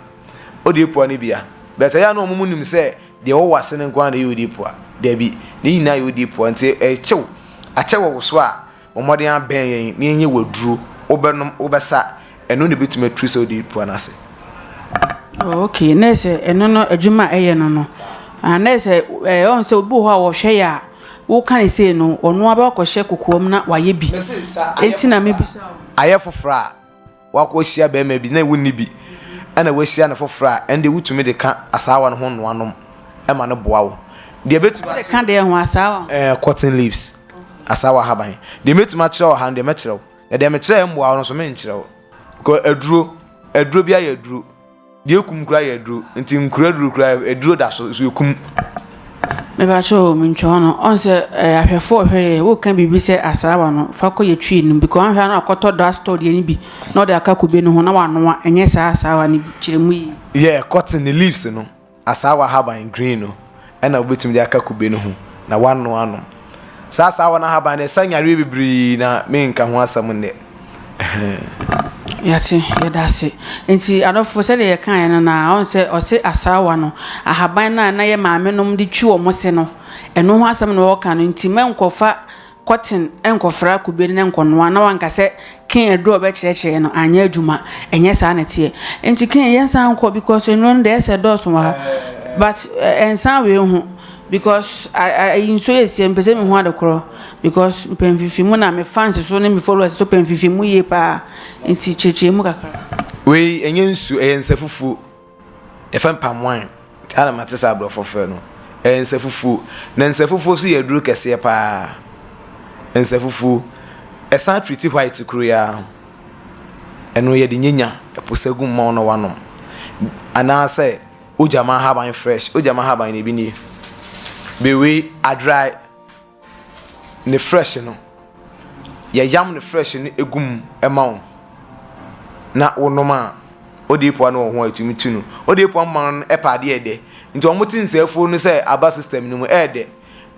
Odiepɔ no bi a. But ɛyɛ a na wɔn nim sɛ deɛ ɛwɔ w'ase no nko ara na ɛyɛ odiepɔ a? Dabi, ne nyinaa yɛ odiepɔ a, nti ɛkyew, akyɛ wɔ wo so a, Bɔ mmɔden ara bɛn yɛn na yɛnyɛ wo aduro. Wobɛnom, wobɛsa, ɛno na ɛbɛtumi aturu sɛ wode repua no ase. Oh, okay. Na sɛ ɛno no adwuma a ɛyɛ no no. Ah, na sɛ ɛɛ ɔn sɛ obi wɔ hɔ a wɔhwɛ yɛ a woka ne sei no ɔno abɛkɔhyɛ kokoam na wayɛ bi. Mese nsa ayɛ foforɔ. Enti na mebisa. Ayɛ foforɔ a. Woakɔhyia barima bi na wonni bi, ɛnna woahyia no foforɔ a, ɛnde wotumi de ka asaawa no ho nnoa nom ma no boa wo. Deɛ ɛbɛtumi akyerɛ. Wode ka deɛ ho asaawa ho? Ɛɛ cotton leaves, asaawa ahaban. Deɛ mɛtumi akyerɛ wɔ ha no deɛ mɛkyerɛ wo, na deɛ mekyerɛɛ mmoa wo no nso menkyerɛ wo. Kɔ aduro, aduro biara yɛ aduro. Deɛ ekum koraa yɛ aduro nti nkura aduro koraa aduro da so so ekum. mebakyɛ o mentwa hɔ no ɔn sɛ ɛɛ eh, ahwɛfo ɔhwɛ yɛ woka biribi sɛ asaawa no fa kɔ yɛ twi no bi kɔ ahwɛ no akɔtɔ da store deɛ no bi na ɔde aka kube no ho na wanoa ɛnyɛ saa asaawa no bi kyerɛ mu yi yɛ cotton ne leaves no Asaawa ahaban, green, no na wobetumi de aka kube no ho na wɔanoa anom. Saa asaawa no ahaban no, ɛsa nyareɛ bebree na menka ho asɛm nnɛ. Yɛate, yɛda ase. Nti adɔfo sɛdeɛ yɛkaeɛ no na ɔn sɛ ɔse asaawa no ahaban no a na yɛ maame nom de twi wɔn se no, ɛno ho asɛm na ɔreka no. Nti mɛnkɔfa Kɔten nkɔfra kube ne nkɔnoa na wanka sɛ Ken aduru a ɔbɛkyerɛkyerɛ no anyɛ adwuma. Ɛnyɛ saa na ɛteɛ. Nti Ken yɛn san nkɔ because nnuro no deɛ ɛsɛ dɔɔso wɔ ha. But eh, nsan wei ho because ayi nsuo yɛ sie mpɛ sɛ mehu ade korɔ because mpɛ mfimfini mu na me fans so ne me followers so pɛ mfimfini mu yie paa nti kyerɛkyerɛ mu kakra. Wei ɛnyɛ nsuo ɛyɛ nsa fufuo. Yɛfrɛ palm wine a na mate sɛ aborɔfo frɛ no nsafufuo. Na nsafufuo nso yɛ aduro kɛseɛ pa ara. Nsafufuo, ɛsan treati white koro yi ara. Ɛno yɛde nyanya ɛpo sagu mmɔn na woanom. Anaasɛ wogyama nhaban fresh, wogyama nhaban no, ebi nie, bewe, adry. ne frɛhye no, yɛyam ne frɛhye no egu mu ma wo na wonom a, odiyipowa no wɔ ho a etumi tu no. Odiyipowa mma no pɛ adeɛ a ɛdɛ, nti wɔn te nsɛafuo no sɛ aba system no mu ɛɛdɛ,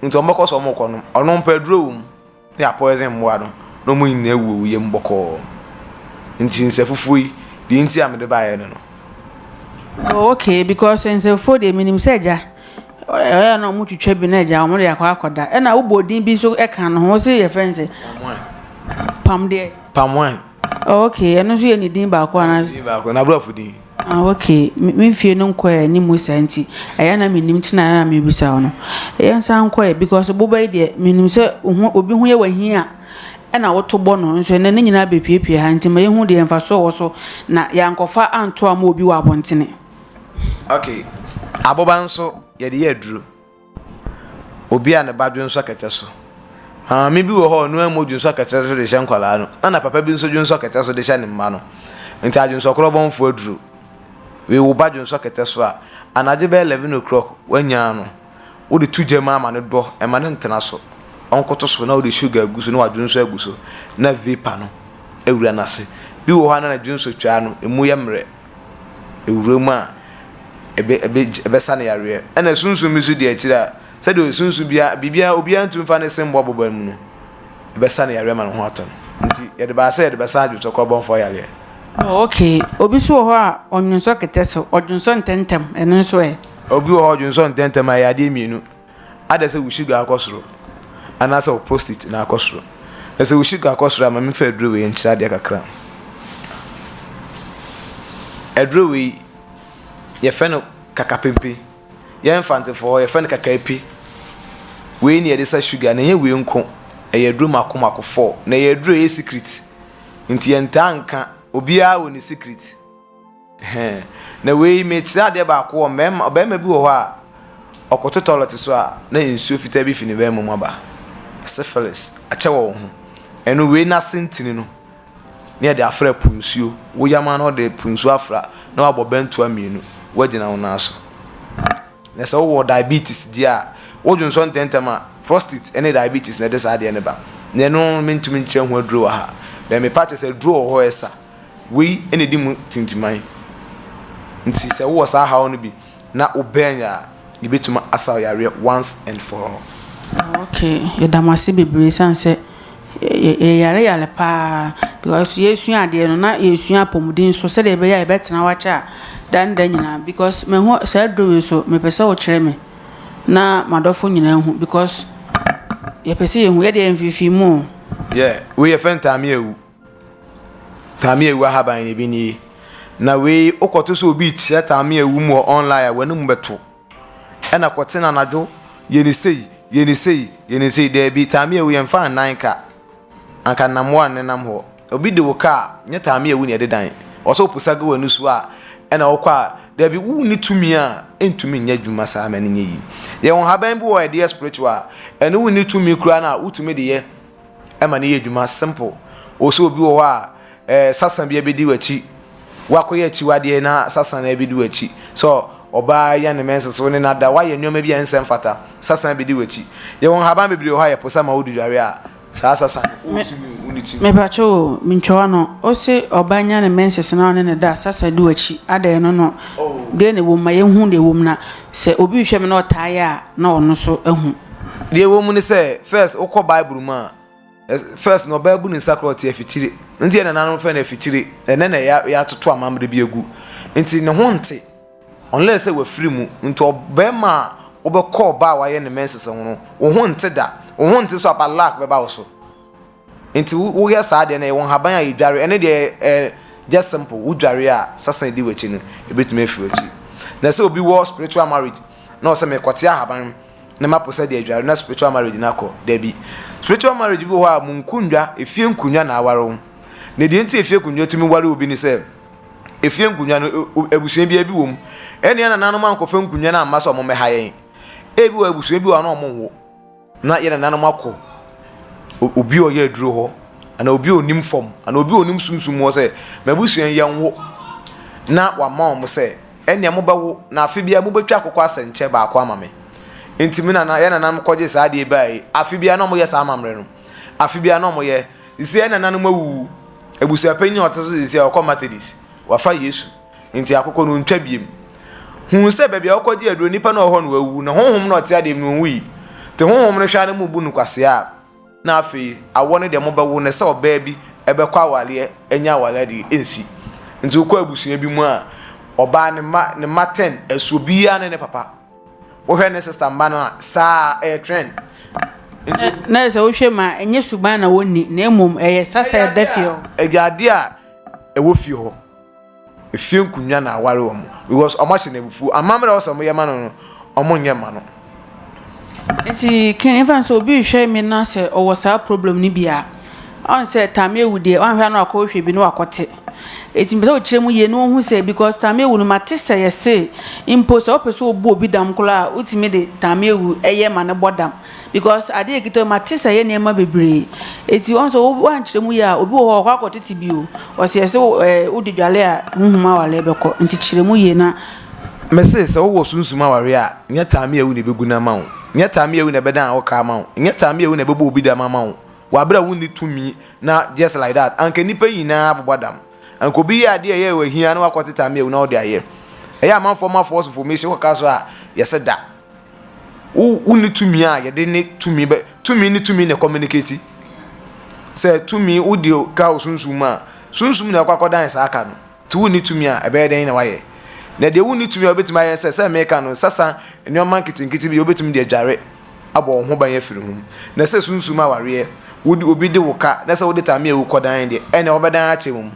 nti wɔn bɛkɔ so wɔn rekɔ nom. Ɔno mpɛ aduro wɔ mu, na yɛ apɔɛsen mmoa no na wɔn nyinaa awu awuyɛ mu bɔkɔɔ. Nti nsɛfufuo yi deɛ nti a mede baeɛ ne no. Oh okay because nsɛfufuo deɛ menim sɛ agya. Ɔyɛ a na ɔmo twitwa bi na ɛgya ɔmo de akɔ akɔda ɛna wobɔ odin bi nso ɛka no ho wosi yɛ fɛn sɛ. Pam Pam deɛ. Pam wine. Oh ok ɛno nso yɛ ne din baako ana. Ne din baako na aborɔfo din. Ah ok me nfie no nkɔ yɛ ne mu saa nti ɛyɛ na menim ti na ɛna mebisa wo no. Yɛn san nkɔ yɛ because boba yi deɛ menim sɛ oho obi ho yɛ wahin a ɛna woto bɔ no nso ɛnɛ ne nyinaa bepiepie ha nti ma yɛhu deɛ mfasoɔ wɔ so na yɛankɔfa anto ama obi wɔ abɔntene. Okay, aboba nso yɛde yɛ aduro. Obi a ne ba dwonsɔ akɛtɛ so. Maame bi wɔ hɔ a ɔno amu dwonsɔ akɛtɛ so de hyɛ nkwadaa no, na na papa bi nso dwonsɔ akɛtɛ so de hyɛ ne mma no. Nti adwonsɔkorɔbɔnfoɔ aduro. Wei wo ba dwonsɔ akɛtɛ so a, anadwo bɛyɛ eleven o'clock woanyaa no, wode to gya mu ama no dɔ, ɛma no ntena so. Ɔnkoto so na wode sugar agu so na wadwonsɔ agu so na vapor no awura n'ase. Bi wɔ hɔ a na ne dwonsɔ twaa no, ɛmu yɛ mmerɛ, ɛwura mu a, ɛbɛ ɛbɛ ɛbɛsa no yareɛ. Ɛna sunsum bi nso di akyire a, sɛdeɛ sunsum biara biribiara obiara ntumi mfa ne se mmɔ aboba mu no, ɛbɛsa no yareɛ ama ne ho atɔ no. Nti yɛde baa sɛ yɛde bɛsa adwensɔkorɔbɔmfoɔ yareɛ. Oh okay, obi nso wɔ hɔ a ɔnwensɔ kɛtɛ so, ɔdwensɔ ntɛntɛm, ɛno nso ɛ? Obi wɔ hɔ a ɔdwensɔ ntɛntɛm a, ɛyɛ adeɛ mmienu. Adɛ sɛ wo sugar akɔ soro anaa sɛ wo prostate na akɔ soro? Na sɛ wo sugar kɔ soro a ma menfa aduro wei nkyerɛ adeɛ kakra. Aduro wei yɛfrɛ no kakapempe. Yɛ mfantefoɔ hɔ yɛfrɛ no kakaape. Wei ne yɛde sa sugar na ɛnyɛ wei nko ɛyɛ aduro mako mako four. Na ɛyɛ aduro ɛyɛ secret nti yɛntaa nka obiara wɔ ne secret. Hɛn, na wei mekyerɛ adeɛ baako wɔ mmarima, ɔbarima bi wɔ hɔ a, ɔkoto tɔlɛt so a, na nsuo fitaa bi fi ne barima mu aba. Syphilis, akyɛ wɔ wo ho. Ɛno wei n'ase ntini no, na yɛde afra po nsuo. Wo yam ara na wɔde po nsuo afra na wɔabɔ bɛntoa mmienu, woagyina wo nan so. Na sɛ wowɔ diabetes deɛ a, wodwo nsɔ ntɛmntɛm a, prostate ne diabetes na ɛde saa adeɛ no ba. Na ɛno mentumi nkyerɛ ho aduro wɔ ha, but mepa akyɛ sɛ aduro wɔ hɔ a ɛsa. Wei na ɛdi mu tintiman. Nti sɛ wowɔ saa haw no bi na wo bɛn yɛ a, yɛbɛtumi asa wo yareɛ once and for all. Ah ok, yɛda mo ase bebree ɛsiane sɛ yɛyare yare paa because yɛresua adeɛ no na yɛresua apɔmuden nso sɛdeɛ ɛbɛyɛ a yɛbɛtena hɔ akyɛ a daa ne daa nyinaa because mahu saa aduro wei so mepɛ sɛ wokyerɛ me na m'adɔfo nyinaa ahu because yɛpɛ sɛ yɛhu, yɛdeɛ yɛmfeefee mu o. Yeah, wei yɛfrɛ no taame awu. Tameawu ahaban na ebi nie. Na wei wokɔto sɛ obi rekyerɛ tameawu mu wɔ online a w'anim bɛto. Ɛna kɔte no anadwo yɛ ne sei yɛ ne sei yɛ ne sei daabi tameawu yɛmfa nnan ka anka nnamoa nnenam hɔ. Obi de wo ka a nyɛ tameawu na ɛde dan. Ɔsɛ woposa gu w'ani so a ɛna wokɔ a daabi wonni tumi a ɛntumi nyɛ adwuma saa ma no nyɛ yie. Yɛwɔ nhaban bi wɔ ɛde yɛ spiritual a ɛno wonni tumi koraa no a wotumi de yɛ ɛma no yɛ adwuma simple o sɛ obi wɔ hɔ a ɛɛ eh, sasa bi abɛdi w'akyi wakɔyɛ akyiwadeɛ na sasa no abɛdi w'akyi sɛ ɔbaa yɛ ne mɛnsa so ne nada wayɛ nneɛma bi a ɛnsɛ mfata sasa abɛdi w'akyi yɛwɔ nhaban bebree wɔ hɔ a yɛpo sɛ ma wodi dware a saa sasa no wotumi wo ne ti mepakyɛ o mentwa no ɔse ɔbaa nya ne mɛnsa so na ɔne ne da sasa di w'akyi adɛn no no oh. deɛ na ɛwɔ mu ma yɛhu deɛ ɛwɔ mu na Sɛ obi rehwɛ me na ɔtaa yɛ a, na ɔno nso ahu. Deɛ ɛwɔ mu ne sɛ, first wokɔ Bible mu a, first na ɔbaa bu ne nsa korɔ te afikyire. Nti yɛ nananom fɛ no afikyire, ɛnɛ na yɛatoto amammerɛ bi agu. Nti ne ho nte, unless sɛ wafiri mu. Nti ɔbarima a wobɛkɔ ɔbaa a wayɛ ne menses ho no, wo ho nte da. Wo ho nte so a, but luck bɛba wo so. Nti wo wo yɛ saa deɛ no yɛ wɔ nhaban a yɛ dware ɛno deɛ ɛ just simple wo dware a sasana di w'akyi no ebetumi afiri w'akyi na sɛ obi wɔ spiritual marriage na ɔsɛ mɛ kɔte ahaban na ma po sɛ deɛ dware na spiritual marriage na kɔ dabi spiritual marriage bi wɔ hɔ a mo nkundwa efie nkundwa na aware wo na deɛ nti efie nkundwa tumi ware obi ne sɛ efie nkundwa no abusua bi ebi wɔ mu ɛnea nananom ankɔfa nkundwa na amma sɛ ɔmo mɛha yɛn ebi wɔ abusua bi wɔ hɔ na ɔmo nwo Na yɛn nananom akɔ obi a ɔyɛ aduro hɔ anaa obi a ɔnim fam anaa obi a ɔnim sunsum hɔ sɛ, M'abusua yi yɛnwo. Na wama wɔn sɛ, Ɛnneɛ mobɛwo, na afe biara mobɛtwa akokɔ asɛnkyɛ baako ama me. Enti me nana, yɛn nananom kɔgyee saa adeɛ yi baeɛ. Afe biara na wɔyɛ saa amammerɛ no. Afe biara na wɔyɛ. Seesei yɛn nananom awuwu. Abusuapanin a ɔte so seesei a ɔkɔ Methodist. Wafa Yesu. Enti akokɔ no ntwa biem. Huu sɛ baabi a ɔkɔgye aduro nipa no wɔ hɔ no wawu, na honhom na ɔte adeɛ mu no ɔnwui. Nti honhom no hwɛ ara na emu bu no kwasea. Na afei awɔ no deɛ mobɛwo no sɛ ɔbaa bi bɛkɔ awareɛ anya awareɛ adeɛ ɛnsi. Nti wokɔ abusua bi mu a, ɔbaa ne mma ne mma ten ɛsoɔ biara ne ne papa. Wohwɛ ne sista mma no a, saa ɛyɛ trend. Nti. Na sɛ wohwɛ mu a, ɛnyɛ suban na wɔnni, na mmom ɛyɛ sa sɛ ɛda fie hɔ. Ɛyɛ adeɛ a ɛwɔ fie hɔ. Efie nkonnwa na aware wɔn because wɔn ahyɛ no abufuo. Amammerɛ a ɔsɛ wɔn yɛ ma no no, wɔn nyɛ mma no. Nti kin efa nso obi rehwɛ mi na sɛ ɔwɔ saa problem no bi a ɔn sɛ taame ewu deɛ ɔn hwɛ na wakɔ hwɛ bi na wakɔ te eti mpɛ sɛ ɔkyerɛ mu yie na ɔhu sɛ because taame ewu no ma te sɛ yɛse mpo sɛ ɔpɛ sɛ ɔbu obi dam koraa a wotumi de taame ewu ɛyɛ ma no bɔ dam because adeɛ ɛkita mu mate sɛ ɛyɛ nneɛma bebree eti wɔn sɛ wɔankyerɛ mu yɛ a obi wɔ hɔ ɔkɔ akɔ tete bi o ɔsɛ ɛsɛ ɛɛ wode dwale a huhum awale bɛkɔ nti kyerɛ mu yie na. mese sɛ wowɔ sunsum awareɛ a nyɛ taame awu na ɛbɛgu no ama wo nyɛ taame awu na ɛbɛdan wo ka ama wo nyɛ taame awu na ɛbɛbɔ obi dam ama wo wɔ aberɛ a wonni tumi na just like that anka nnipa nyinaa bobɔ dam anka obi yɛ adeɛ ɛyɛ wɔ ahia na wakɔte taame awu na wode ayɛ ɛyɛ amanfoɔ ma false information wɔka so a yɛse da wo wo ne tumi a yɛde ne tumi bɛ tumi ne tumi na communicate sɛ tumi wode ka wo sunsum mu a sunsum na ɛkɔ akɔdan saa ka no nti wo ne tumi a ɛbɛyɛ dɛn na wayɛ na deɛ wo ne tumi a wobɛtumi ayɛ sɛ sɛ meka no sasa nneɛma nketenkete bi wobɛtumi de adware abɔ wo ho ban afiri ho na sɛ sunsum awareɛ wode obi de wo ka na sɛ wode tame a wokɔdan deɛ ɛna wɔbɛdan akyɛ mu.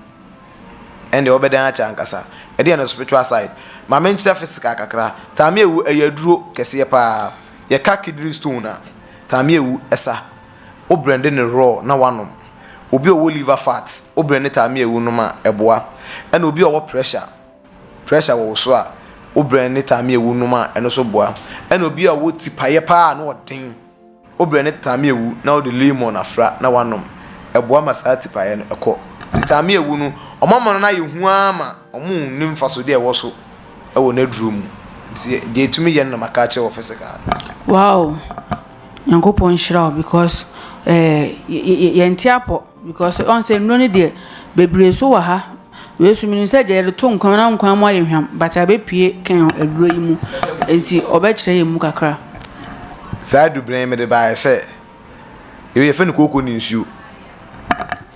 ɛnde wɔbɛdan akyɛ ankasa. Ɛdeɛn no spiritual side? Ma me nkyerɛ physical kakra. Tamia wu ɛyɛ aduro kɛseɛ paa. Yɛka kidney stone a, tamia wu ɛsa. Wo brɛnde no raw na wanom. Obi a ɔwɔ liver fat, wo brɛnde tamia wu nom a, ɛboa. Ɛna obi a ɔwɔ pressure, pressure wɔ wo so a, wo brɛnde tamia wu nom a, ɛno nso boa. Ɛna obi a ɔwɔ ti paeɛ paa a na ɔden. Wobrɛ ne taame awu na wode lemon afra na wanom. Ɛboa ma saa tipaeɛ no kɔ. Nti taame awu no, wɔama no no ayɛ hu ara ma wɔnni mfasodeɛ a ɛwɔ so wɔ n'aduro mu. Nti deɛ ɛtumi yɛ no na maka akyerɛ wɔ physical no. Wow Nyankopɔn nhyira wo because eh yɛnte apɔ. Because ɔn sɛ nnuro no deɛ bebree so wɔ ha wei so menim sɛ deɛ yɛde to nkwan mu na nkwan mu ayɛ hwam but abɛpue kɛn aduro yi mu nti ɔbɛkyerɛ yɛn mu kakra. Saa adubena yi mede baeɛ sɛ yei yɛfrɛ no kooko ne nsuo.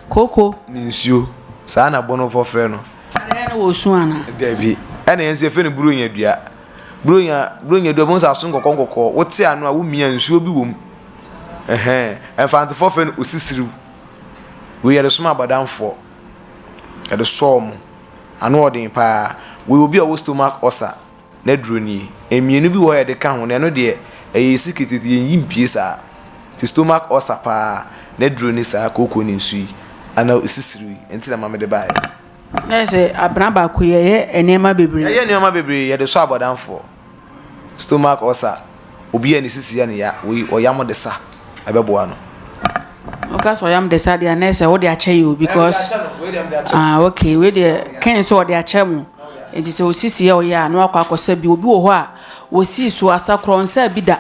Kooko. Ne nsuo saa na Bonofoɔ frɛ no. Ɛyɛ no wɔ su ana? Dabi ɛna yɛn nso yɛfrɛ no buronya dua. Buronya buronya dua bɛhu sɛ aso nkɔkɔɔ nkɔkɔɔ wote ano a womia nsuo bi wɔ mu. Ɛhɛn, Mfantefoɔ frɛ no osisiriw. Wei yɛde som abɔdamfoɔ, yɛde sɔ wɔn. Ano yɛ den pa ara. Wei obi a ɔwɔ stomach ulcer n'aduro nie. Mmienu bi wɔ hɔ a yɛde ka ho na ɛno deɛ, ɛyɛ secret nti yɛnyi mpue saa. Nti stomach ulcer pa ara n'aduro ne saa kooko ne nsu yi anaa osisiriw yi. Ɛno nti na maame de baeɛ. Na kyerɛ sɛ abena baako yi ɛyɛ nneɛma bebree. Ɛyɛ nneɛma bebree, yɛde sɔ abɔdamfoɔ. Stomach ulcer, obi a ne sisi yɛ no ya, ɔyam de sa, ɛbɛboa no. Woka sɛ ɔyam de sa deɛ anɛ sɛ wode akyɛ yɛ o because ah okay wei deɛ kɛn sɛ ɔde akyɛ mo nti sɛ osisi yɛ ɔyɛ a na wakɔ akɔsa bi obi wɔ hɔ a osii so asakorɔ nsa bi da.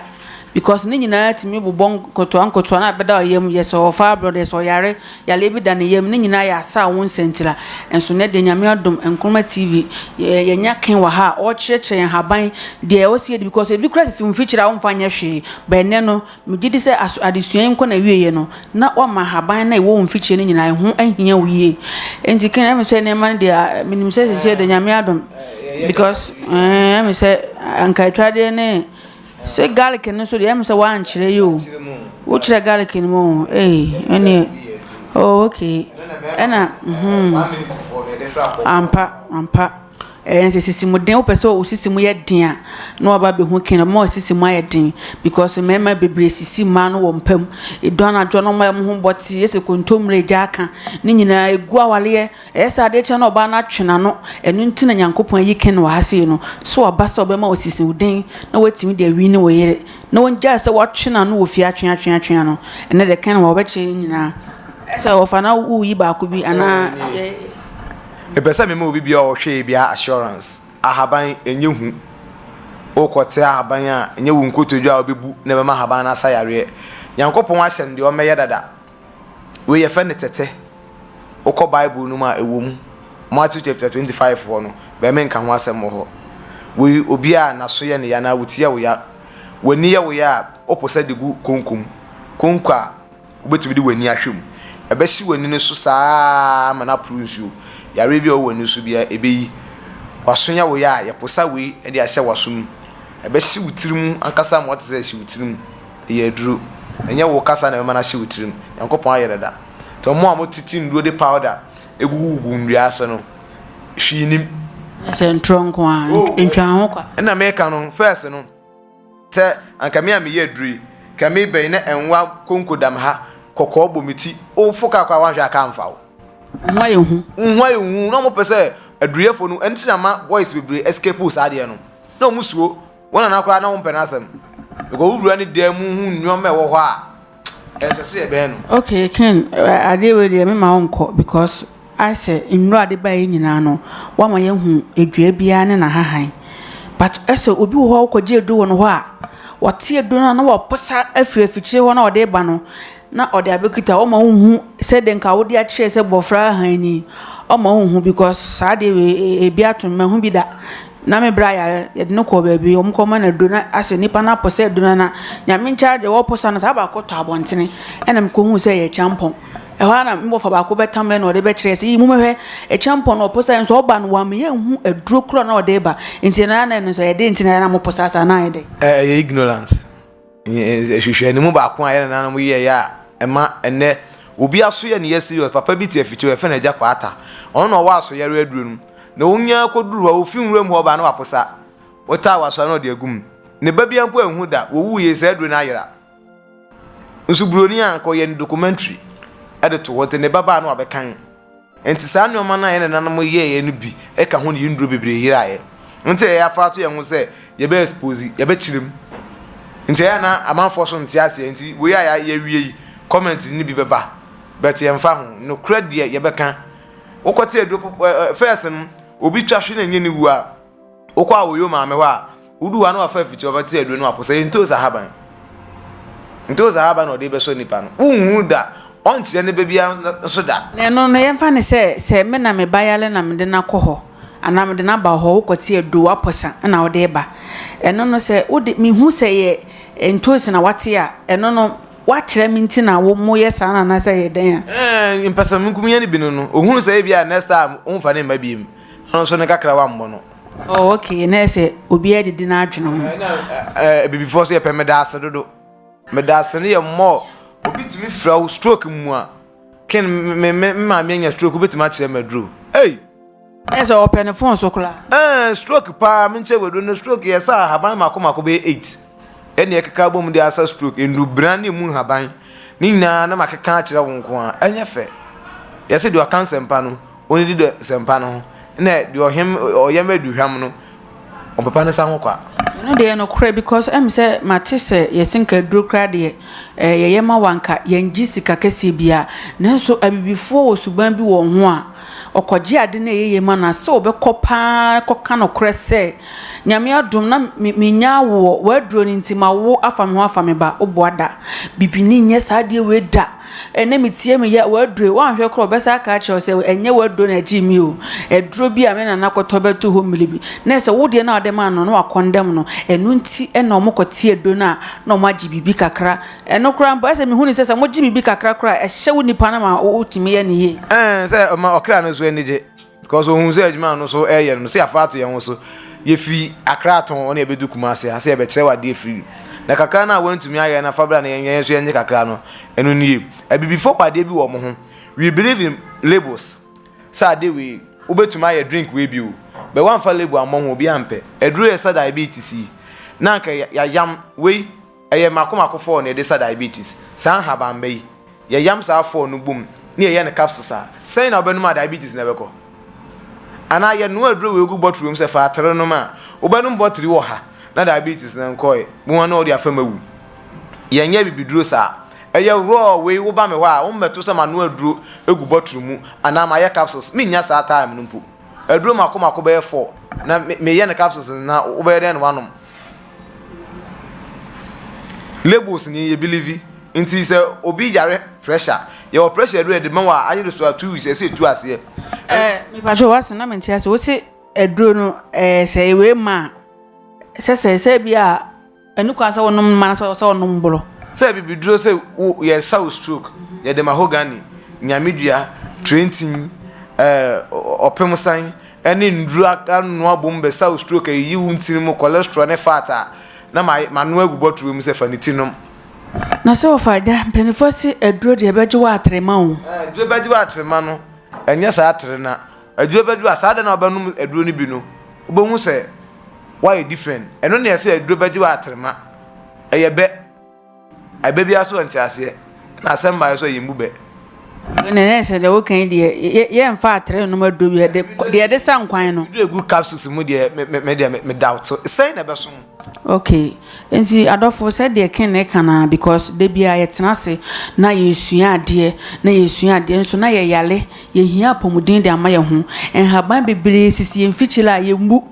Because ne nyinaa tumi bobɔ nkotoa nkotoa na ɛbɛda ɔyam yɛ sɛ ɔfa abrɔ deɛ sɛ ɔyare yareɛ bi da ne yam ne nyinaa yɛ asaa wo nsɛntira nso nɛ deɛ nyame adom nkroma TV yɛnya ken wɔ ha a ɔkyerɛkyerɛ yɛn haban deɛ ɛwɔ sɛ yɛdi because ebi kora sisi wo mfikyire a womfa nyɛ hwee but ɛnɛ no megye di sɛ adesua yi nkɔ na wieɛ no na wama haban na ɛwɔ wo mfikyire no nyinaa ɛho ahia wo yie nti ken ɛme sɛ nneɛma no deɛ menim sɛ sisi deɛ nyame adom because ɛme sɛ anka atwadeɛ ne Sɛ garlic no nso deɛ ɛmu sɛ wankyerɛ yi o wokyerɛ garlic no mu o ee ɛneɛ oh okay ɛna hmm ampa ampa ɛyɛ sɛ sisi mu den wopɛ sɛ osisi mu yɛ den a na waba abɛhu kin ɔma osisi mu ayɛ den because mmarima bebree sisi mmaa no wɔ mpa mu edu anadwo no wɔn ho bɔte yɛ sɛ kontomire gya aka ne nyinaa egu awareɛ. Ɛyɛ sɛ adeɛ kyɛ na ɔbaa no atwe n'ano, ɛno nti na Nyankopɔn ayi Ken wɔ ha sei no, so aba sɛ ɔbɛma wasisi wo den na watumi de awini wo yere, na wangyae sɛ watwe n'ano wɔ fie atwe atwe atwe ano, ɛnnɛ deɛ Ken wɔ ha ɔbɛkyɛ yɛn nyinaa, ɛyɛ sɛ ɔfa na woyi baako bi anaa yɛ. Mepɛ sɛ mema obi biara a ɔhwɛ ebi a assurance, ahaban ɛnyɛ hu, wokɔ te ahaban a ɛnyɛ wo nkotodwe a wobɛbu na ɛbɛma ahaban no asa yareɛ, Nyankopɔn ahyɛ no deɛ ɔmmɛyɛ dada. Wei yɛfrɛ no tɛtɛ. Wokɔ Bible no mu a, ɛwɔ mu. Matthew chapter 25 hɔ no, bɛmɛ nka ho asɛm wɔ hɔ. Wei obi a n'aso yɛ ne ya anaa wo ti yɛ wo ya, w'ani yɛ wo ya a, wopɛ sɛ de gu konko mu. Konko a wobɛtumi de w'ani ahwɛ mu. Ɛbɛhye w'ani no so saa ara ma no aporo nsuo. Yareɛ bi a ɛwɔ w'ani so biara, ɛbɛyi. W'aso yɛ wo ya a, yɛposa wei de ahyɛ w'aso mu. Ɛbɛhye wo tiri mu ankasa ma woate sɛ ɛhye wo tiri mu. ɛyɛ aduro. Ɛnyɛ wo kasa na ɛbɛma no ahyɛ wo tirim. Nyankopɔn ayɛ dada. Nti wɔn a wɔtete nnuro de powder gugugugu nnua ase no, hwee nnim. Sɛ ntorɔ nko a, ntwa ho kwa. Ɛna meka no, first no, sɛ anka me a meyɛ aduro yi, ka me bɛyi na ɛnwa konko dam ha, kɔkɔɔ bɔ me ti, wofo kaa kɔ a wanhwɛ a kaa mfa wo. Wo ho ayɛ hu. Wo ho ayɛ hu. Na wɔpɛ sɛ aduruyɛfo no, ɛno nti na ama boys bebree escape saa adeɛ no. Na wɔn suo Wo nana koraa na wo mpɛ n'asɛm. Because wo wura ne dan mu hu nneɛma ɛwɔ hɔ a ɛsɛ sɛ yɛbɛn no. Okay Ken, adeɛ wei deɛ mema wo nkɔ because ayɛ sɛ nnuro a de ba yɛ nyinaa no wama yɛahu adua biara ne n'ahahan. But ɛsɛ obi wɔ hɔ a wokɔgye aduro wɔ ne hɔ a, wɔte aduro no a na wɔposa afiri afikyire hɔ na wɔde ba no. na ɔde abɛkita ɔma wo hu sɛ dɛ nka wode akyerɛ sɛ bɔfra ahan ni ɔma wo hu because saa deɛ wei e, e, ebi ato mma ho bi da na me bra yare yɛde no kɔ baabi wɔn kɔ ma no aduro na asɛ nipa no apɔ sɛ aduro no na nyame nkyɛn deɛ wɔpɔ sa no saa baako tɔ abɔntene ɛna mekɔ hu sɛ yɛ kyampɔn ɛhɔ ara na mbɔfa baako bɛtam ɛna ɔde bɛkyerɛ sɛ yi mu mɛhwɛ ɛkyampɔn na ɔpɔ sa nso ɔba no wɔn yɛ nhu aduro koro na ɔde ba nti na na ɛno nso yɛde nti na yɛn na mopɔ sa saa na ayɛ dɛ ɛyɛ ignorant. nhwehwɛanimu baako a yɛn nananom yɛeɛ a ɛma ɛnɛ obi aso yɛ ne yɛ serious papa bi te afiti yɛfɛ no agya kwaata ɔno na ɔwɔ aso yɛre aduro no na ɔnya kɔduru hɔ ɔfi nwura mu hɔ ɔbaa na waposa ɔtaa waso na ɔde agum ne ba bia mpo anhu da wɔwu yɛ saa aduro no ayera nso buroni a nkɔyɛ ne documentary ɛde to hɔ nti ne ba baa na wabɛkan Enti saa nneɛma no a yɛn nananom yɛeɛ no bi ka ho ne yɛn nnuro bebree yeraeɛ. Nti ɛyɛ afa ato yɛn ho sɛ yɛbɛ expose, yɛbɛkyerɛ mu. Nti ɛyɛ a na amanfoɔ so nte aseɛ nti wei a yɛawie yi comment no bi bɛba but yɛmfa ho. Nokorɛ deɛ yɛbɛka. Wokɔte aduro first no obi twa hwe na ɛnyɛ ne wu a. Wokɔ a woyo maame hɔ a, wodu hɔ a na wafa afiti ɔfa ti aduro no apo sɛ ntoos ahaban. Ntoos ahaban na ɔde bɛsɔ nipa no. Wonhu da, ɔnkyerɛ ne ba biara nso da. Na ɛno no yɛmfa no sɛ sɛ me na me ba yare na mede no akɔ hɔ anaa mede no aba hɔ, wokɔ te aduro wapɔ sa na wode reba. Ɛno no sɛ wode mehu sɛ yɛ ntoos na wate a, ɛno no wakyerɛ me nti na wɔyɛ saa na anaasɛ yɛ dɛn a. Ɛɛ mpɛsɛmenkominya no bi no no, ohunu sɛ ebi a next time womfa ne mma bi mu. Ɔno nso ne kakra wammɔ no. Oh okay na ɛsɛ obi adidi n'adwene ho. Eh, na eh, abibifoɔ so yɛpɛ meda ase dodo. Meda ase no yɛ mmɔ obi tumi fira wo stroke mu a ken me me maame anya stroke wobɛtumi akyerɛ ma duro. Ei! Ɛ sɛ ɔpɛ ne fon so koraa. Eh, stroke paa menkyɛ waduro no stroke yɛ sɛ ahaban mako mako bɛyɛ eight. ɛnna ɛkeka abom de asa stroke, nnubran ne emu nhaban ne nyinaa na makeka akyerɛ wo nko a, ɛnyɛ fɛ. Yɛse deɛ ɔka nsɛmpa no, ɔnidi dɔ nsɛmpa no ho, na deɛ ɔhem ɔyam aduhwam no, ɔmpepa ne sa ho kwa. Ɛno deɛ nokorɛ because ɛm sɛ mate sɛ yɛse nka aduro koraa deɛ ɛɛ yɛyɛ ma wo anka yɛngye sika kɛseɛ biara nanso abibifoɔ wɔ suban bi wɔ ho a Ɔkɔgye ade no a ɛyɛ yie ma no a, sɛ ɔbɛkɔ pa ara akɔka nokorɛ sɛ, Nyame adom na me mennya awoɔ, w'aduro no nti mawo afa me ho afa me ba. Woboa da. Bibini nyɛ saa adeɛ wei da. Ɛnnɛ metie me yɛ, w'aduro yi, woanhwɛ koraa a ɔbɛsan aka akyerɛ wo sɛ, ɛnyɛ w'aduro na ɛgyee me o, aduro bi a me nana kɔtɔ bɛtoo hɔ mmire bi, na ɛsɛ wo deɛ no a wode maa no no, na wakɔndɛm no. Ɛno nti na wɔkɔte aduro no a, na wɔagye biribi kakra. Ɛno koraa mpo, ɛsɛ sɛ mihu no sɛ sɛ mogye biribi kakra koraa a, ɛhyɛ wo nipa no ma wotumi yɛ no yie. Ɛn, sɛ ɔma ɔkra no nso ani gye, because ohu sɛ adwuma a ɔno nso reyɛ no no, sɛ yɛafa ato yɛn ho so, yefi Accra tɔn na yɛbɛdu Kumasi ha sɛ yɛbɛkyerɛ wo adeɛ afiri mu. Na kakra no a woantumi ayɛ no, fa bra na yɛn nso yɛnyɛ kakra no. Ɛno nie. Abibifoɔ wɔ adeɛ bi wɔ wɔn ho, we believe in labels. Sɛ adeɛ wei, wobɛtumi ayɛ drink wei bi o, but woamfa label ammɔ ho, obiara mpɛ. Aduro yɛ sɛ diabetes yi, na anka yɛayam wei. Ɛyɛ mako mako fɔɔ na yɛde sa diabetes. Saa nhabamma yi, yɛyam saa fɔɔ no bom na yɛyɛ no capsules a, sɛn na wobɛnom a diabetes no bɛkɔ? Anaa yɛnoa aduro wei gu bɔtoro mu sɛ fa atere nom a, wobɛnom bɔtiri ɔha na diabetes no nkɔe, wo ara na wode afam awu. Yɛnyɛ abibiduro saa. Ɛyɛ raw wei, woba me hɔ a, wommɛto sɛ manoa aduro agu bɔtoro mu anaa mayɛ capsules, mennya saa time no mpo. Aduro mako mako bɛyɛ fɔɔ na meyɛ no capsules no na wobɛyɛ dɛn na woanom? Labels ni yɛ bilivi nti sɛ obi yare pressure yɛwɔ pressure aduro yɛde ma wɔ a ayere so a two weeks ɛsɛ etu aseɛ. ɛɛ mipatro wɔ asɛm na mi nti ase wosi aduro no ɛɛ sɛ ewe ma sɛ sɛ sɛ bi a ɛnu kwan sɛ wɔnom ma sɛ sɛ wɔnom boro. sɛ bibiduro sɛ wo yɛsa wo stroke yɛde mahogany nyamedua trentin ɛɛ ɔpemsan ne nnuru anoa abɔ mu bɛsaw stroke ayiyi wo ntini mu cholesterol ne fat a na ma mano agu bɔtoro mu sɛ fa ne ti nom. Na sɛ ɔfa agya mpanimfoɔ se aduro deɛ ɛbɛgye wo atere ma wo. Ɛɛ aduro bɛgye wo atere ma no ɛnyɛ saa atere na aduro bɛgye wo a saa da na ɔbɛnom aduro no bi no wobɛhu sɛ woayɛ different ɛno na yɛse aduro bɛgye wo atere ma ɛyɛ bɛ. Ɛbɛ biara so wɔ nteaseɛ, ɛna asɛm baeɛ so yɛ mmu bɛ. na ɛyɛ sɛ deɛ woka yi deɛ yɛ- yɛmfa atere nom aduro bi ɛde kɔ- deɛ ɛde sa nkwan no Duru egu capsules mu deɛ me me me deɛ me me doubt so sɛn na ɛbɛso ho. okay nti adɔfo sɛ deɛ ken ne ka naa because da bi a yɛtena ase na yɛsua adeɛ na yɛsua adeɛ nso na yɛyare yɛhia apɔmuden de ama yɛn ho nhaban bebree sisi yɛn mfikyire a yɛmmu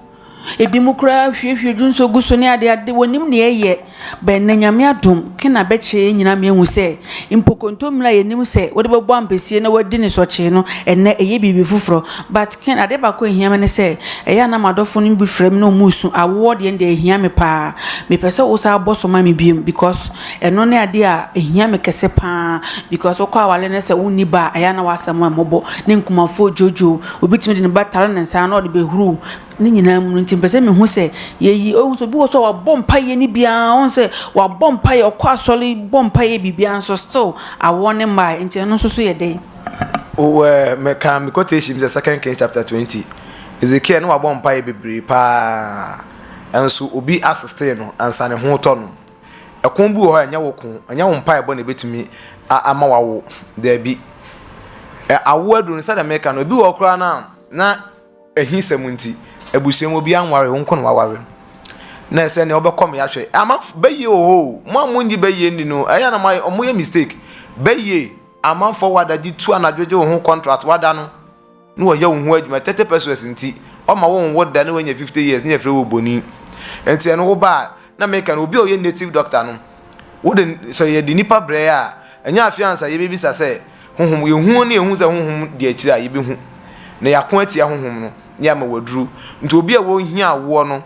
Ebinom koraa huahua dwu nso gu so ne adeade. Wɔnnim nea ɛyɛ. But nnɛ Nyame adom, Kena bɛkyerɛ yɛn nyinaa ma yɛahu sɛ mpo kontommire a yɛnim sɛ wode bɛbɔ ampesie na woadi ne sɔkyee no, ɛnnɛ ɛyɛ biribi foforɔ. But Ken, adeɛ baako a ɛhia me ne sɛ, ɛyɛ a na m'adɔfo no bi frɛ me na wɔresu. Awoɔ deɛ no deɛ ɛhia me pa ara. Mepɛ sɛ wosan bɔ so ma me bio because ɛno ne adeɛ a ɛhia me kɛse pa ara because wokɔ aware na sɛ wonni ba a, ɛyɛ a na w'asɛm yɛ mmɔbɔ ne nkumafoɔ dwoodwoo. Obi tumi de ne ba tare ne nsa na ɔde bɛhuru ne nyinaa mu no nti, mpɛ sɛ mehu sɛ yɛyi ɔhu sɛ obi wɔ so a wabɔ mpaeɛ no biara ɔhu sɛ wabɔ mpaeɛ ɔkɔ asɔre bɔ mpaeɛ biribiara nso still awoɔ ne mmaa nti ɛno nso so yɛ dɛn. Wowɔ mɛka me quotation sɛ second Kings chapter twenty Ezekiel no wabɔ mpaeɛ bebree paa nso obi asistee no ansa ne ho tɔ no. Ɛko bi wɔ hɔ a ɛnyɛ wo ko, ɛnyɛ wo mpaebɔ na ebetumi ama wawo. Daabi. Awo aduru no sɛdeɛ meka no, ebi wɔ hɔ koraa no a na ahisɛm nti abusua mu obiara nware, wo nko na waware. Na ɛsɛ nea wobɛkɔ mmea hwɛ. Ama bɛyie wɔ hɔ o, mo a monnye bɛyie nni no, ɛyɛ na wɔyɛ mistake. Bɛyie, amanfoɔ wɔ adagye tu anadwo gye wo ho contract, wada no. na wɔyɛ wo ho adwuma thirty pesos nti ɔma wo nwo da na wanya fifty years na yɛfrɛ wo boni nti ɛno wo ba a na meka no obi a ɔyɛ native doctor no wode sɛ yɛde nipa brɛ a ɛnyɛ afei ansa yɛbɛbisa sɛ honhom yɛhu ne yɛhu sɛ honhom de akyire a yɛbɛhu na yɛako atia honhom no ne ama waduru nti obi a wɔhia awoɔ no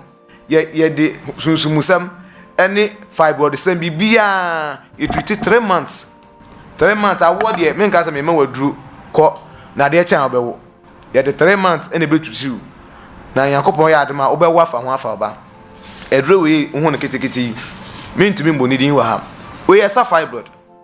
Yɛ yɛde sunsumusɛm ɛne fibroidsɛm biribiaa yɛ treati three months three months awoɔ deɛ menka sɛ mema waduro kɔ na adeɛ kyɛn a wobɛwo yɛde three months ɛna ɛbɛ tuturiw na nyankopɔn yɛ adema wobɛwo afa ho afa ɔba aduro wei wohu no ketekete yi mentumi mbɔ ne din wɔ ha wei ɛsa fibroid.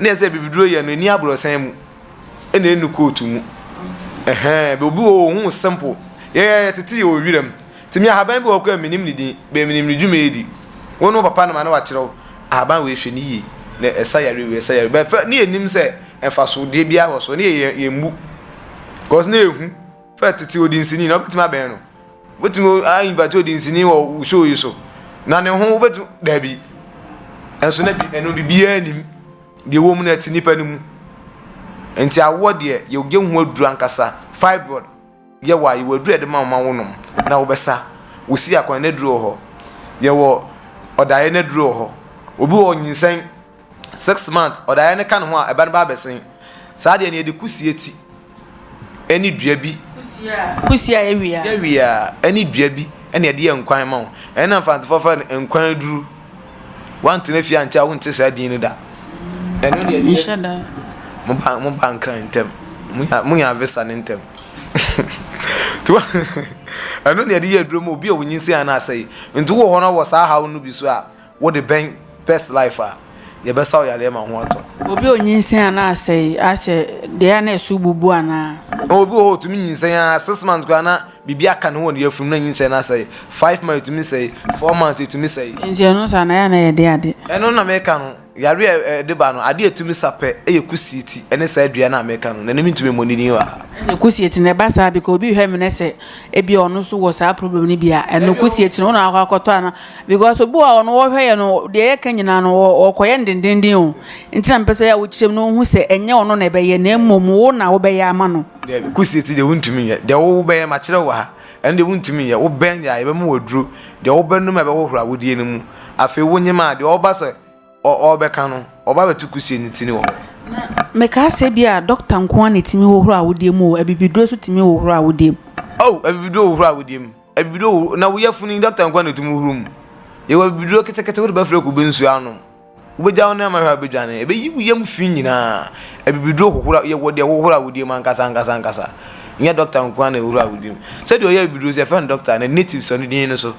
na ɛsɛ bibiduro yɛ no ɛni aborɔsan mu ɛna ɛnu kootu mu ɛhɛn obi wɔ hɔ ohun simple yɛyɛ tete yɛ wɔ wiram tumi ahaban bi wɔ kɔ a menim ne din bɛn menim ne dwuma edi wɔn no papa no ma na wakyerɛw ahaban wɔ ehwɛ ne yie na ɛsa yare wɔ ɛsa yare bɛfɛ ne yɛ nim sɛ mfasodeɛ biara wɔ so ne yɛ yɛ mbu kɔs ne ehu. Fɛ tete odi nsini na wobɛtumi abɛn no. Wobɛtumi ainvite odi nsini wɔ wo show yi so. Na ne ho wobɛtumi daabi. Ɛnso na bi ɛno biribiara nim. Deɛ ɛwɔ mu no ɛte nipa no mu. Nti awoɔ deɛ yɛgye ho aduru ankasa. Fibroid yɛwɔ a yɛwɔ aduru a yɛde ma wɔn ma wonom na wobɛsa. Wosi akwan no aduru wɔ hɔ. Yɛwɔ ɔdaeɛ no aduru wɔ hɔ. Obi wɔ nyinsɛn. Six months ɔdaeɛ no ka ne ho a ɛba no ba abɛsen. Saa deɛ no yɛde kusie ti ɛne dua bi. Kusie a ɛwia. Ɛwia ɛne dua bi ɛna yɛde yɛ nkwan ma wo. Ɛna mfantefoɔ fɛ no nkwan aduru. Wantena fie ankyɛ a wonte saa din no da. Ɛno deɛ deɛ. Nhyɛ da. Mo ba mo ba nkran ntɛm. Mo nya mo nya visa ne ntɛm. Tuwa ɛno deɛ yɛde yɛ aduro ma obi a onyinsɛn anaa asɛe. Nti wowɔ hɔ na wɔ saa haw no bi so a. Wo de bɛn best life a, yɛbɛsaw yareɛ ma ho atɔ. Obi a ɔnyinsɛn a na asɛe ahyɛ deɛ a na ɛso bubu anaa? Na obi wɔ hɔ ɔtumi nyinsɛn a six months koraa na biribi aka ne wɔ ne yafunu na nyinsɛn no asɛe. Five months ɛtumi sɛe, four months ɛtumi sɛe. Nti ɛno saa na yɛ a na yɛ de ade. Ɛno na meka no, yareɛ a ɛde ba no adeɛ a ɛtumi sa pɛ yɛ kusieti ne saa dua no a meka no, na ɛno mentumi mmɔ ne din wɔ ha. Ɛsɛ kusieti na ɛba saa because obi hwɛ me na sɛ ebia ɔno nso wɔ saa problem no bi a, ɛno kusieti no wo na wakɔ akɔtɔ anaa? Because obi wɔ hɔ a ɔno wɔhwɛ yɛ no deɛ yɛka nyinaa no ɔkɔyɛ no dendenden o nti na mepɛ sɛ wokyerɛ mu na ɔhu sɛ ɛnyɛ ɔno na ɛbɛyɛ na mmom wo na wobɛyɛ ama no. Daabi kusie ti deɛ wontumi nyɛ deɛ wobɛyɛ makyerɛ wɔ ha ɛno deɛ wontumi nyɛ wobɛn deɛ a yɛbɛma wɔ aduro deɛ wobɛnom a ɛbɛhohoro awodeɛ no mu afei wonyem a deɛ ɔba sɛ ɔbɛka no ɔba bɛto kusie no ti no wɔ hɔ. Meka sɛ bi a doctor nko ara na ɛtumi hohoro awodeɛ mu o abibiduro nso tumi hohoro awodeɛ mu. Oh abibiduro hohoro awodeɛ mu. Abibiduro horow na wo yafunu yi dɔkta nko ara na etumi horo mu. Yɛwɔ abibiduro ketekete wode bɛfra kube nsu anom. Wobegyaw no ama hwɛ a wobedwane. Ebeyi wo yam fi nyinaa. Abibiduro hohoro yɛwɔ deɛ ɛhohoro a wodie mu ankasa ankasa ankasa. Nyɛ dɔkta nko ara na ɛhohoro a wodie mu. Sɛdeɛ ɔyɛ abibiduro nso yɛfrɛ no dɔkta na native sɔ ne din no so.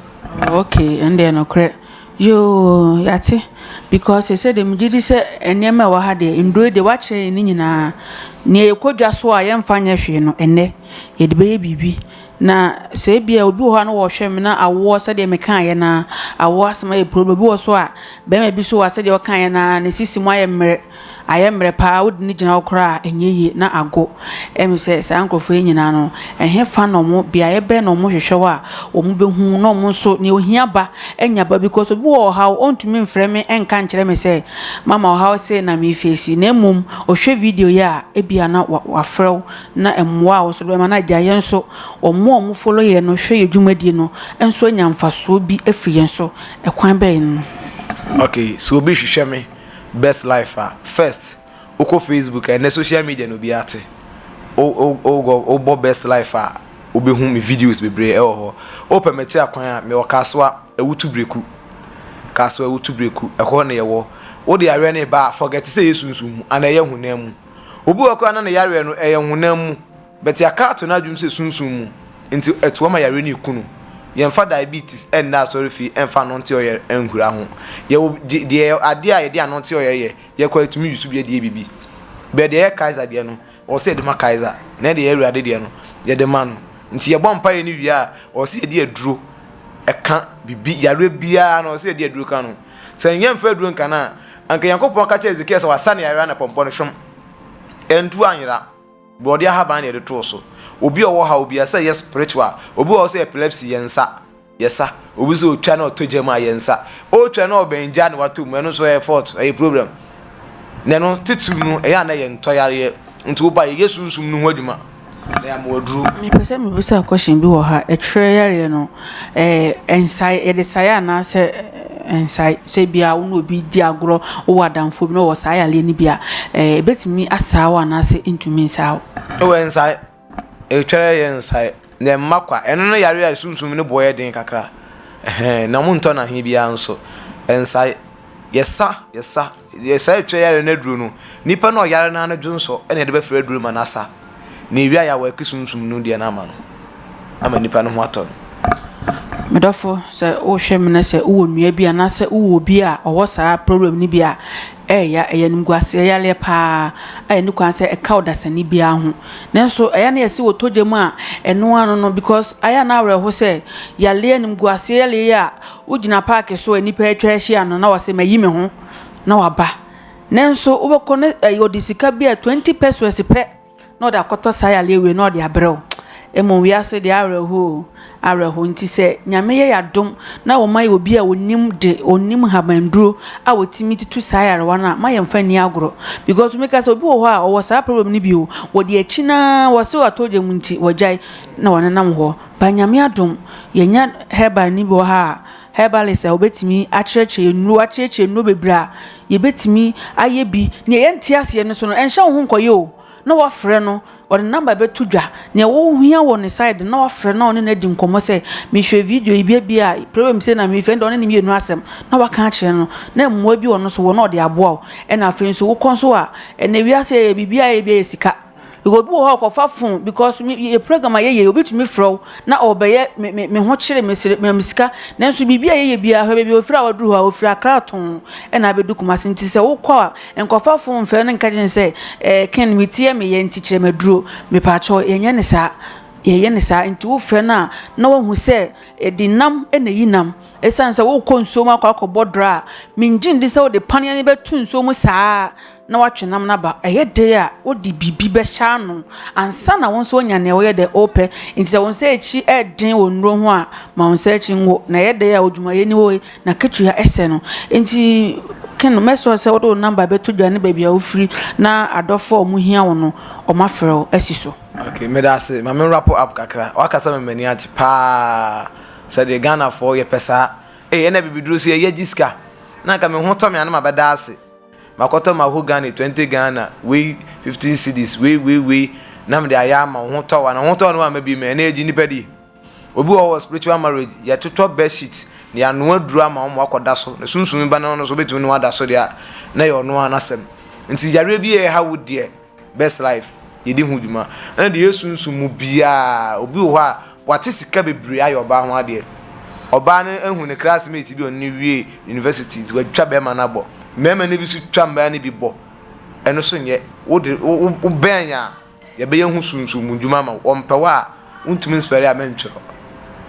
Oh okay ɛno deɛ nokorɛ yoo yɛate because sɛsɛ deɛ megye di sɛ nneɛma a ɛwɔ ha deɛ nnuro yi deɛ woakyerɛ yɛn ne nyinaa. Nea yɛkɔ dwa so a yɛmfa nyɛ hwee no ɛnnɛ yɛde bɛyɛ biribi. Na sɛ ebia obi wɔ hɔ a na ɔrehwɛ me na awoɔ sɛdeɛ mekaeɛ no ara, awoɔ asɛm ayɛ problem. Obi wɔ so a, barima bi nso wɔ hɔ a sɛdeɛ ɔkaeɛ no ara, ne sisi mu ayɛ mmerɛ, ayɛ mmerɛ pa ara, wode no gyina hɔ koraa a, ɛnyɛ yie na ago. Ɛyɛ me sɛ saa nkurɔfoɔ yi nyinaa no, ɛhefa na wɔn, beaeɛ bɛn na wɔhwehwɛ hɔ a wɔbɛhu na wɔn nso deɛ ɔhia ba anya ba because obi wɔ ɔhaw ɔntumi mfrɛ me nka nkyerɛ me sɛ mama ɔhaw sei na merefeesi na mmom ɔhwɛ video yi a ebia na wa wafrɛ wo na mmoa a wɔso de bɛma no agya yɛn nso wɔn a wɔn follow yɛn no hwɛ yɛn dwumadie no nso anya mfasoɔ bi afiri yɛn so ɛkwan bɛn mu. Ok sɛ obi hwehwɛ me best life a first wokɔ facebook a ɛnɛ social media na obiara te wo bɔ best life a wobɛhu me videos bebree ɛwɔ hɔ wo pɛ me te akwan a mewɔ kasoa awutu breku kasoa awutu breku ɛhɔ na yɛwɔ wode aweɛ no ba a forget sɛ ɛyɛ sunsum mu anaa ɛyɛ honam mu. Obi wɔ hɔ koraa na ne yareɛ no ɛyɛ honam mu, but yɛaka ato n'adwene sɛ sunsum mu, nti ɛtoa ma yareɛ no reku no. Yɛmfa diabetes nna asɔrefie mfa anonte ɔyɛ nhura ho. Yɛwɔ deɛ adeɛ a yɛde anonte ɔyɛ yɛ, yɛ koraa yɛtumi use bi adie biribi. Bɛɛ deɛ ɛyɛ Kaiser deɛ no, ɔwɔ sɛ yɛde ma Kaiser, na deɛ ɛyɛ Awurade deɛ no, yɛde ma no. Nti yɛbɔ mpaeɛ no wie a, ɔwɔ sɛ yɛde aduro ɛka biribi, yareɛ biara no ɔwɔ sɛ yɛde aduro ka no. Sɛ nnyɛ mfe du nka no a, anka Nyankopɔn aka akyerɛ Hesekia sɛ wasa ne yareɛ ara na pɔmpɔ no hwam. Antu anyera. Borɔdeɛ ahaban na yɛde too so. Obi a ɔwɔ haw biara, sɛ ɛyɛ spiritual, obi wɔ hɔ sɛ epilepsy, yɛn nsa. Yɛsa. Obi sɛ ɔtwa na ɔtɔ gya mu a, yɛn nsa. Ɔretwa na ɔbɛn gya na watɔ mu, ɛno nso ɛyɛ fault, ɛyɛ problem. Na ɛno titiriw no, ɛyɛ a na ɛyɛ ntɔyareɛ. Nti woba a, yɛyɛ sunsum no ho adwuma. Mepɛ sɛ mebisa question bi wɔ ha, ɛtwerɛ yareɛ no nsae yɛde sae anaa sɛ nsae? Sɛ ebi a wo ne obi redi agorɔ, wo wɔ adamfoɔ bi na ɔwɔ saa yareɛ no bi a, ɛbɛtumi asaa wo anaa sɛ ɛntumi nsaa wo? Ɛwɔ nsae, ɛtwerɛ yɛ nsae na ɛmma kwa, ɛno ne yareɛ a sunsum no boɔ yɛ den kakra na wɔntɔ no ahe biara nso, nsae, yɛsa yɛsa. Deɛ saa ɛtwa yareɛ no aduro no, nipa no a ɔyare no ara no dwonsɔ na yɛde bɛfra aduro ma no asa, na ɛwie a yɛawa ɛke sunsum no deɛ no ama no, ama nipa no ho atɔ no. Me dɔfo, sɛ wohwɛ me na sɛ wowɔ nua bi anaasɛ wowɔ obi a ɔwɔ saa problem no bi a, ɛyɛ ya, ɛyɛ animguaseɛ yareɛ paa a ɛni kwan sɛ ɛka ɔdasani biara ho. Nanso ɛyɛ a na yɛse wɔtɔ gya mu a, ɛno ara no no, because ayɛ a na awerɛho sɛ yareɛ, animguaseɛ yareɛ yi a, Wogyina park so a nnipa atwa ahyia no na wase mayi me ho na waba. Nanso wobɛkɔ ne ɛyɛ ɔde sika bi a 20 pesos pɛ na ɔde akɔtɔ saa yare awie na ɔde abrɛ wo. Mmom wiase de awerɛhow awerɛhow nti sɛ Nyame yɛ yadom na wɔma yɛ obi a onim de onim habanduro a wɔtumi tutu saa yarewa no a ma yɛn fa ni agorɔ because me ka sɛ obi wɔ hɔ a ɔwɔ saa problem no bi o wɔde akyi na wɔse watɔ gya mu nti wɔgyae na wɔnenam hɔ By Nyame adom yɛnya herbal ni bi wɔ ha a herbalist a obetumi akyerɛkyerɛ yɛn nnuro, akyerɛkyerɛ nnuro bebree a yɛbɛtumi ayɛ bi. Nea yɛnte aseɛ no so no, ɛnhyɛ wo ho nkɔyɛ o. Na wafrɛ no, ɔde ne number bɛto dwa. Nea wohia wɔ ne side no, na wafrɛ na ɔne no adi nkɔmmɔ sɛ, mehwɛ video yi bi ebi a, problem sei na mefɛ, ɛnna ɔne ne mmienu asɛm na waka akyerɛ no, na mmoa bi wɔ no so wɔ na ɔde aboa wo. Ɛnna afei nso wokɔ nso a, ɛnnɛ wiase a yɛyɛ biribiara a ɛyɛ bi yɛ sika. Yɛwɔ obi wɔ hɔ a ɔkɔfa phone because me yɛ program a yɛyɛ obi tumi frɛ wo na ɔbɛyɛ me me me ho kyere me sere me sika nanso biribi a yɛyɛ biara hwɛ baabi ofiri a waduru hɔ a ofiri akra tɔn ɛna abɛdu kumase nti sɛ wokɔ a nkɔfa phone mfɛ ne nka gyen sɛ ɛɛ ken me ti yɛ me yɛ nti kyerɛ me aduro mepaakyɛw yɛnyɛ ne saa yɛyɛ ne saa nti wofrɛ no a na wahu sɛ ɛdi nam ɛna yi nam ɛsan sɛ wokɔ nsuo mu akɔ akɔbɔ dra a mengye ndi sɛ wode paneɛ ne bɛtu nsuo mu saa. na watwe nam no aba. Ɛyɛ dɛ a, wode biribi bɛhyɛ ano ansa na wo nso woanya nea woyɛ dɛ wopɛ. Nti sɛ wo nsa akyi den wɔ nnuro ho a, ma wo nsa akyi ngo. Na ɛyɛ dɛ a, odwumayɛni wɔ he? N'akatua sɛn no? Nti Ken, make sure sɛ wode wo number bɛto dwa ne baabi a wofiri na adɔfo a wɔhia wo no, wɔafrɛ wo asi so. Okay, meda ase. Ma me wrap up kakra. Wakasa ma m'ani agye paa sɛ deɛ Ghanafoɔ yɛpɛ saa. Ee, ɛna bibiduro so yɛyɛ gye sika. Na anka me ho tɔ me a na mabɛda ase. Makɔtɔ mahogany twenty Ghana wei fifteen cedis wei wei wei na mede ayɛ ama wo ho tɔ wa na ho tɔ no ama bi mɛ ɛna yɛgye nipa di obi wɔ wɔ spiritual marriage yɛtotɔ bed sheet na yɛanoa duro ama wɔn wakɔda so na sunsum ba no no so wobɛtumi ne wada so deɛ a na yɛ ɔno ara n'asɛm nti yareɛ bi a ɛha wo deɛ Best life yɛdi ho dwuma ɛna deɛ yɛsunsum mu biaa obi wɔ hɔ a wate sika bebree ayɛ ɔbaa ho adeɛ ɔbaa no ahu ne classmate bi ɔne wie university nti watwa bɛrima no abɔ mmarima no bi so twa mmaa no bi bɔ ɛno so nyɛ wode wobɛn a yɛbɛyɛ ho sunsum mu dwuma ma wɔmpɛ hɔ a wontumi nspɛre a mentwerɛ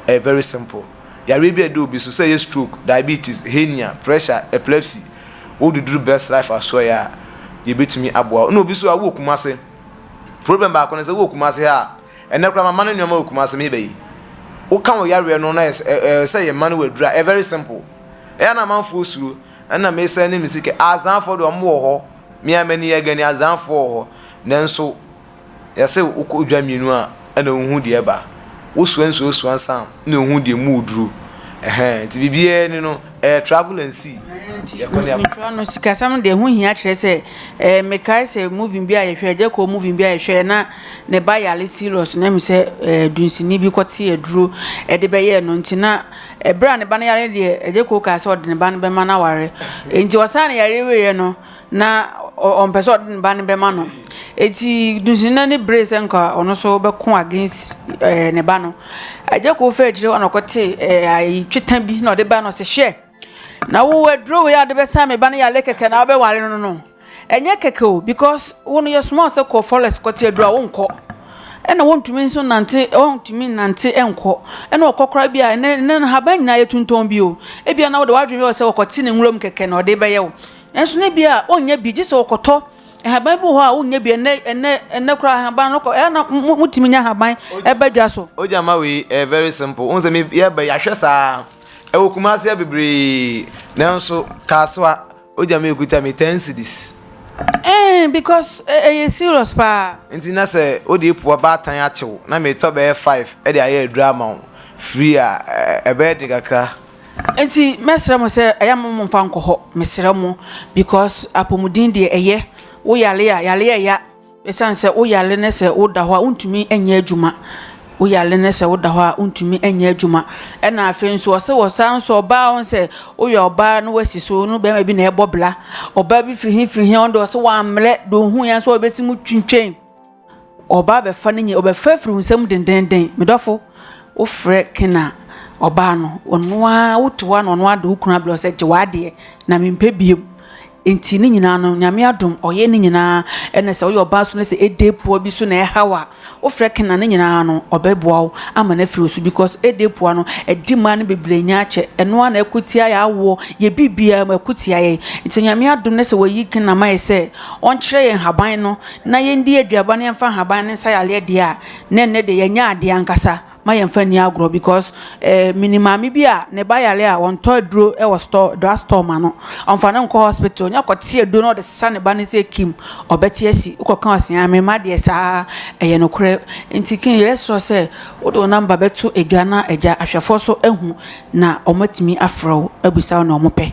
ɛyɛ very simple yareɛ bi a ɛda obi so sɛ ɛyɛ stroke diabetes hernia pressure epilepsy wo de duru Best Life Asoɛe a, yɛbɛtumi aboa wo. Ɛna obi nso a, wowɔ Kumase. Problem baako ne sɛ, wowɔ Kumase ha a, ɛnnɛ koraa mama no nneɛma wɔ Kumase, me ba yi. Woka wo yareɛ no na ɛyɛ sɛ, ɛ, ɛ, sɛ yɛma no aduru a, ɛyɛ very simple. Ɛyɛ a na amanfoɔ suro. Ɛna mesane me sika. Azanfoɔ deɛ, wɔn wɔ hɔ. Me ara m'ani yɛ gani, Azanfoɔ wɔ hɔ. Nanso. Yɛse wokɔ dwa mmienu a ɛna wohu deɛ ɛba, wosua nsuo sua nsa a ɛna wohu deɛ mu wɔ duro. Ɛhɛn, nti biribiara ni no, ɛyɛ travel and see. Nti Yɛkɔ ne yɛaba. nkyerɛ no sikasɛm deɛ ɛho hia kyerɛ sɛ eh, mekae sɛ movie bi a yɛhwɛ ɛgya kɔɔ movie bi a yɛhwɛ na ne ba yare serious na ɛhu sɛ eh, dunsini bi kɔte aduro ɛde bɛyɛɛ no nti na ɛberɛ a ne ba no yare deɛ ɛgya kɔɔ kaa sɛ ɔde ne ba no bɛma no aware nti ɔsaa ne yareɛ wieɛ no na ɔ ɔ ɔmpɛ sɛ ɔde ne ba no bɛma no. Enti Dunsina no beree sɛ nka ɔno nso bɛko against ɛɛ ne ba no. Agyako faa akyire hɔ na ɔkɔtee ɛɛ ayi tweta bi na ɔde ba no sɛ hwɛ na wo aduro wei a ɔde bɛsan me ba no yɛ ale kɛkɛ na wobɛware no no ɛnyɛ kɛkɛ o because wo no yɛsoma wo sɛ kɔ forest kɔte aduro a wonkɔ ɛna wontumi nso nante wontumi nnante nkɔ ɛna ɔkɔ koraa bi a ɛnɛ ɛnɛ nhaban nyinaa yɛtontɔn bi o ebia na wode w'adwene bɛwɔ sɛ wɔkɔte ne nwuram kɛkɛ na ɔde bɛyɛ wo Nanso na ebia ɔnnya bi, gye sɛ ɔkɔtɔ nhaban bi wɔ hɔ a wonnya bi ɛnɛ ɛnɛ ɛnɛ koraa nhaban no kɔ ɛyɛ na motumi nya nhaban ɛba dwa so. o gya ma wei ɛyɛ very simple wɔn sɛ mi yɛba yɛahwɛ saa ɛwɔ kumase yɛ bebree nanso kaasoa o gya ma ekuta mi ten cedis. ɛn eh, because eh, ɛyɛ serious paa. nti na sɛ o de epo abaatan atew na mi tɔ bɛyɛ five ɛde ayɛ adura ama wo free a ɛbɛyɛ de kakra. Enti mɛsrɛ mo sɛ ɛyɛ mo mo mfa nkɔ hɔ mesrɛ mo because apɔmuden deɛ ɛyɛ wo yale a yale a ɛya ɛsiane sɛ wo yale ne sɛ woda hɔ a wontumi nyɛ adwuma wo yale ne sɛ woda hɔ a wontumi nyɛ adwuma ɛna afei nso ɔsɛ wɔ saa nso ɔbaa wɔn sɛ woyɛ ɔbaa no wasi so no bɛrima bi na ɛbɔ bla ɔbaa bi firi hi firi hi ɔno deɛ ɔsɛ wɔammerɛ deɛ ohun yɛn nso ɔbɛsi mu twintwan. Ɔbaa bɛfa ne nyɛ, ɔbɛfa afiri wo nsam dendenden. Me dɔfo, wofrɛ Ken a, ɔbaa no, ɔno ara wote hɔ a na ɔno ara de wo kunu abrɛ wo sɛ gye w'adeɛ na mempɛ biom. Nti ne nyinaa no, Nyame adom, ɔyɛ ne nyinaa. Ɛna sɛ woyɛ ɔbaa so na sɛ ɛde poa bi so na ɛhaw a, wofrɛ Ken a ne nyinaa no, ɔbɛboa wo ama no afiri wo so because ɛde poa no, ɛde mmaa no bebree nya akyɛ. Ɛno ara na ɛko tia yɛ awoɔ, yɛ biribiara mu ɛko tia yɛn. Nti Nyame adom na sɛ wɔayi Ken ama yɛ sɛ ɔnkyerɛ yɛn haban no na yɛndi aduaba na yɛmfa nhaban ne nsa yɛ adeɛ deɛ a, na ɛnnɛ deɛ yɛanya adeɛ ankasa ma yɛmfa nni agorɔ because eh, menim maame bi a ne ba yare a wɔntɔ aduro wɔ store, drug store ma no. Ɔmfa no nkɔ hospital, ɔnya kɔte aduro na ɔde sesa ne ba no sɛ kim, ɔbɛte asi, wokɔka ɔse a mema deɛ saa ɛyɛ nokorɛ. Nti kin yɛsrɛ sɛ wode wo namba bɛto adwa na agya ahwɛfoɔ so ahu na wɔatumi afrɛ wo abisa wo na wɔpɛ.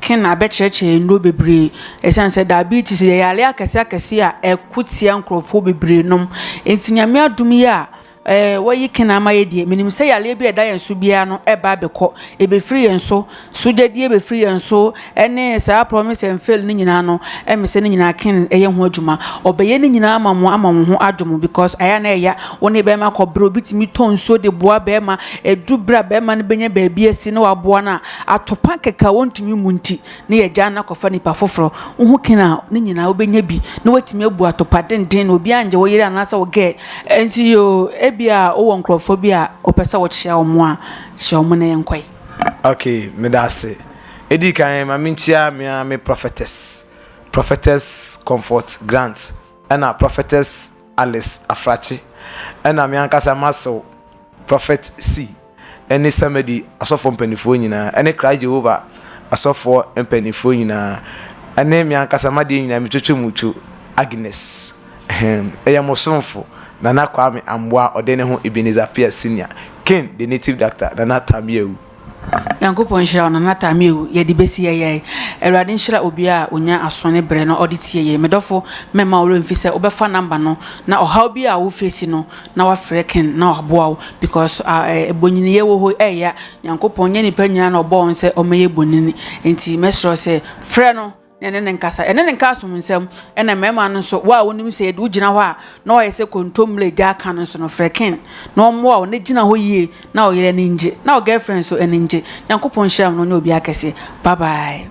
Ken na abɛkyerɛkyerɛ nnuro bebree ɛsiane sɛ diabetes yɛ yareɛ akɛseɛ akɛseɛ a ɛko tia nkorɔfoɔ bebree nom nti nyame adom yi a ɛɛ wayi Ken ama yɛ deɛ menim sɛ yareɛ bi a ɛda yɛn so biara no ɛba abɛkɔ ɛbɛfiri yɛn so sogyadie bɛfiri yɛn so ɛne saa promise and fail no nyinaa no ɛme sɛ ne nyinaa Ken ɛyɛ ho adwuma ɔbɛyɛ ne nyinaa ama mo ama mo ho adwo mo because ayɛ a na ɛya wo ne bɛrima kɔbrɛ obi tumi tɔ nsuo de boa bɛrima ɛduru berɛ a bɛrima no bɛnya baabi asi na waboa no a Atopa kɛkɛ a wɔntumi mmu nti na yɛgyaa no akɔfa nnipa foforo. Wo ho kena a, ne nyinaa wobɛnya bi na woatumi abu atopa denden na obiara nngye wo yere anaasɛ wo gɛɛ. Ɛnti yoo, ebia wowɔ nkorɔfoɔ bi a wopɛ sɛ wokyea wɔn a, kyea wɔn na yɛnkɔe. Ok, meda ase. Ɛdi kan, ma menkyia me ara me Prophetess, Prophetess Comfort Grant, ɛna Prophetess Alice Afrakye, ɛna me ankasa m'asew, Prophet Sy, ne Samedi asɔfoɔ mpaninfoɔ nyinaa, ne Christ Jehovah asɔfoɔ mpaninfoɔ nyinaa, ne meankasa m'adeɛ nyinaa metwetwe mo two Agnes, ahem, yɛ mo somfo, Nana Kwame Amboah ɔde ne ho Ebenezer Appiah Senior, Kin the native doctor, Nana Tam Yawu. Nyankopɔn nhyira wo nana Tamiu yɛde bɛsi ɛyɛe awurade nhyira obia a onya aso ne brɛ na ɔde tie yei medɔfo mɛma wo werɛ mfi sɛ wobɛfa number no na ɔhaw bi a wo face no na wafrɛ Ken na waboa wo because ah eh bonyiniyɛ wɔ hɔ ɛya Nyankopɔn nyɛ nipa nyina na ɔbɔɔ wɔn sɛ wɔmɛyɛ bonini nti mɛsrɛ wo sɛ frɛ no ɛne ne nkasa ɛne ne nka asom nsɛm ɛna mmarima no nso wo a wonim sɛ yɛde wogyina hɔ a na wɔayɛ sɛ kontommire gya aka no nso no frɛ ken na ɔmmoa wo na gyina hɔ yie na ɔyere ani ngye na ɔgirlfriend nso ani ngye nyankopɔn nhyira mu no nyɛ obi akɛseɛ bye bye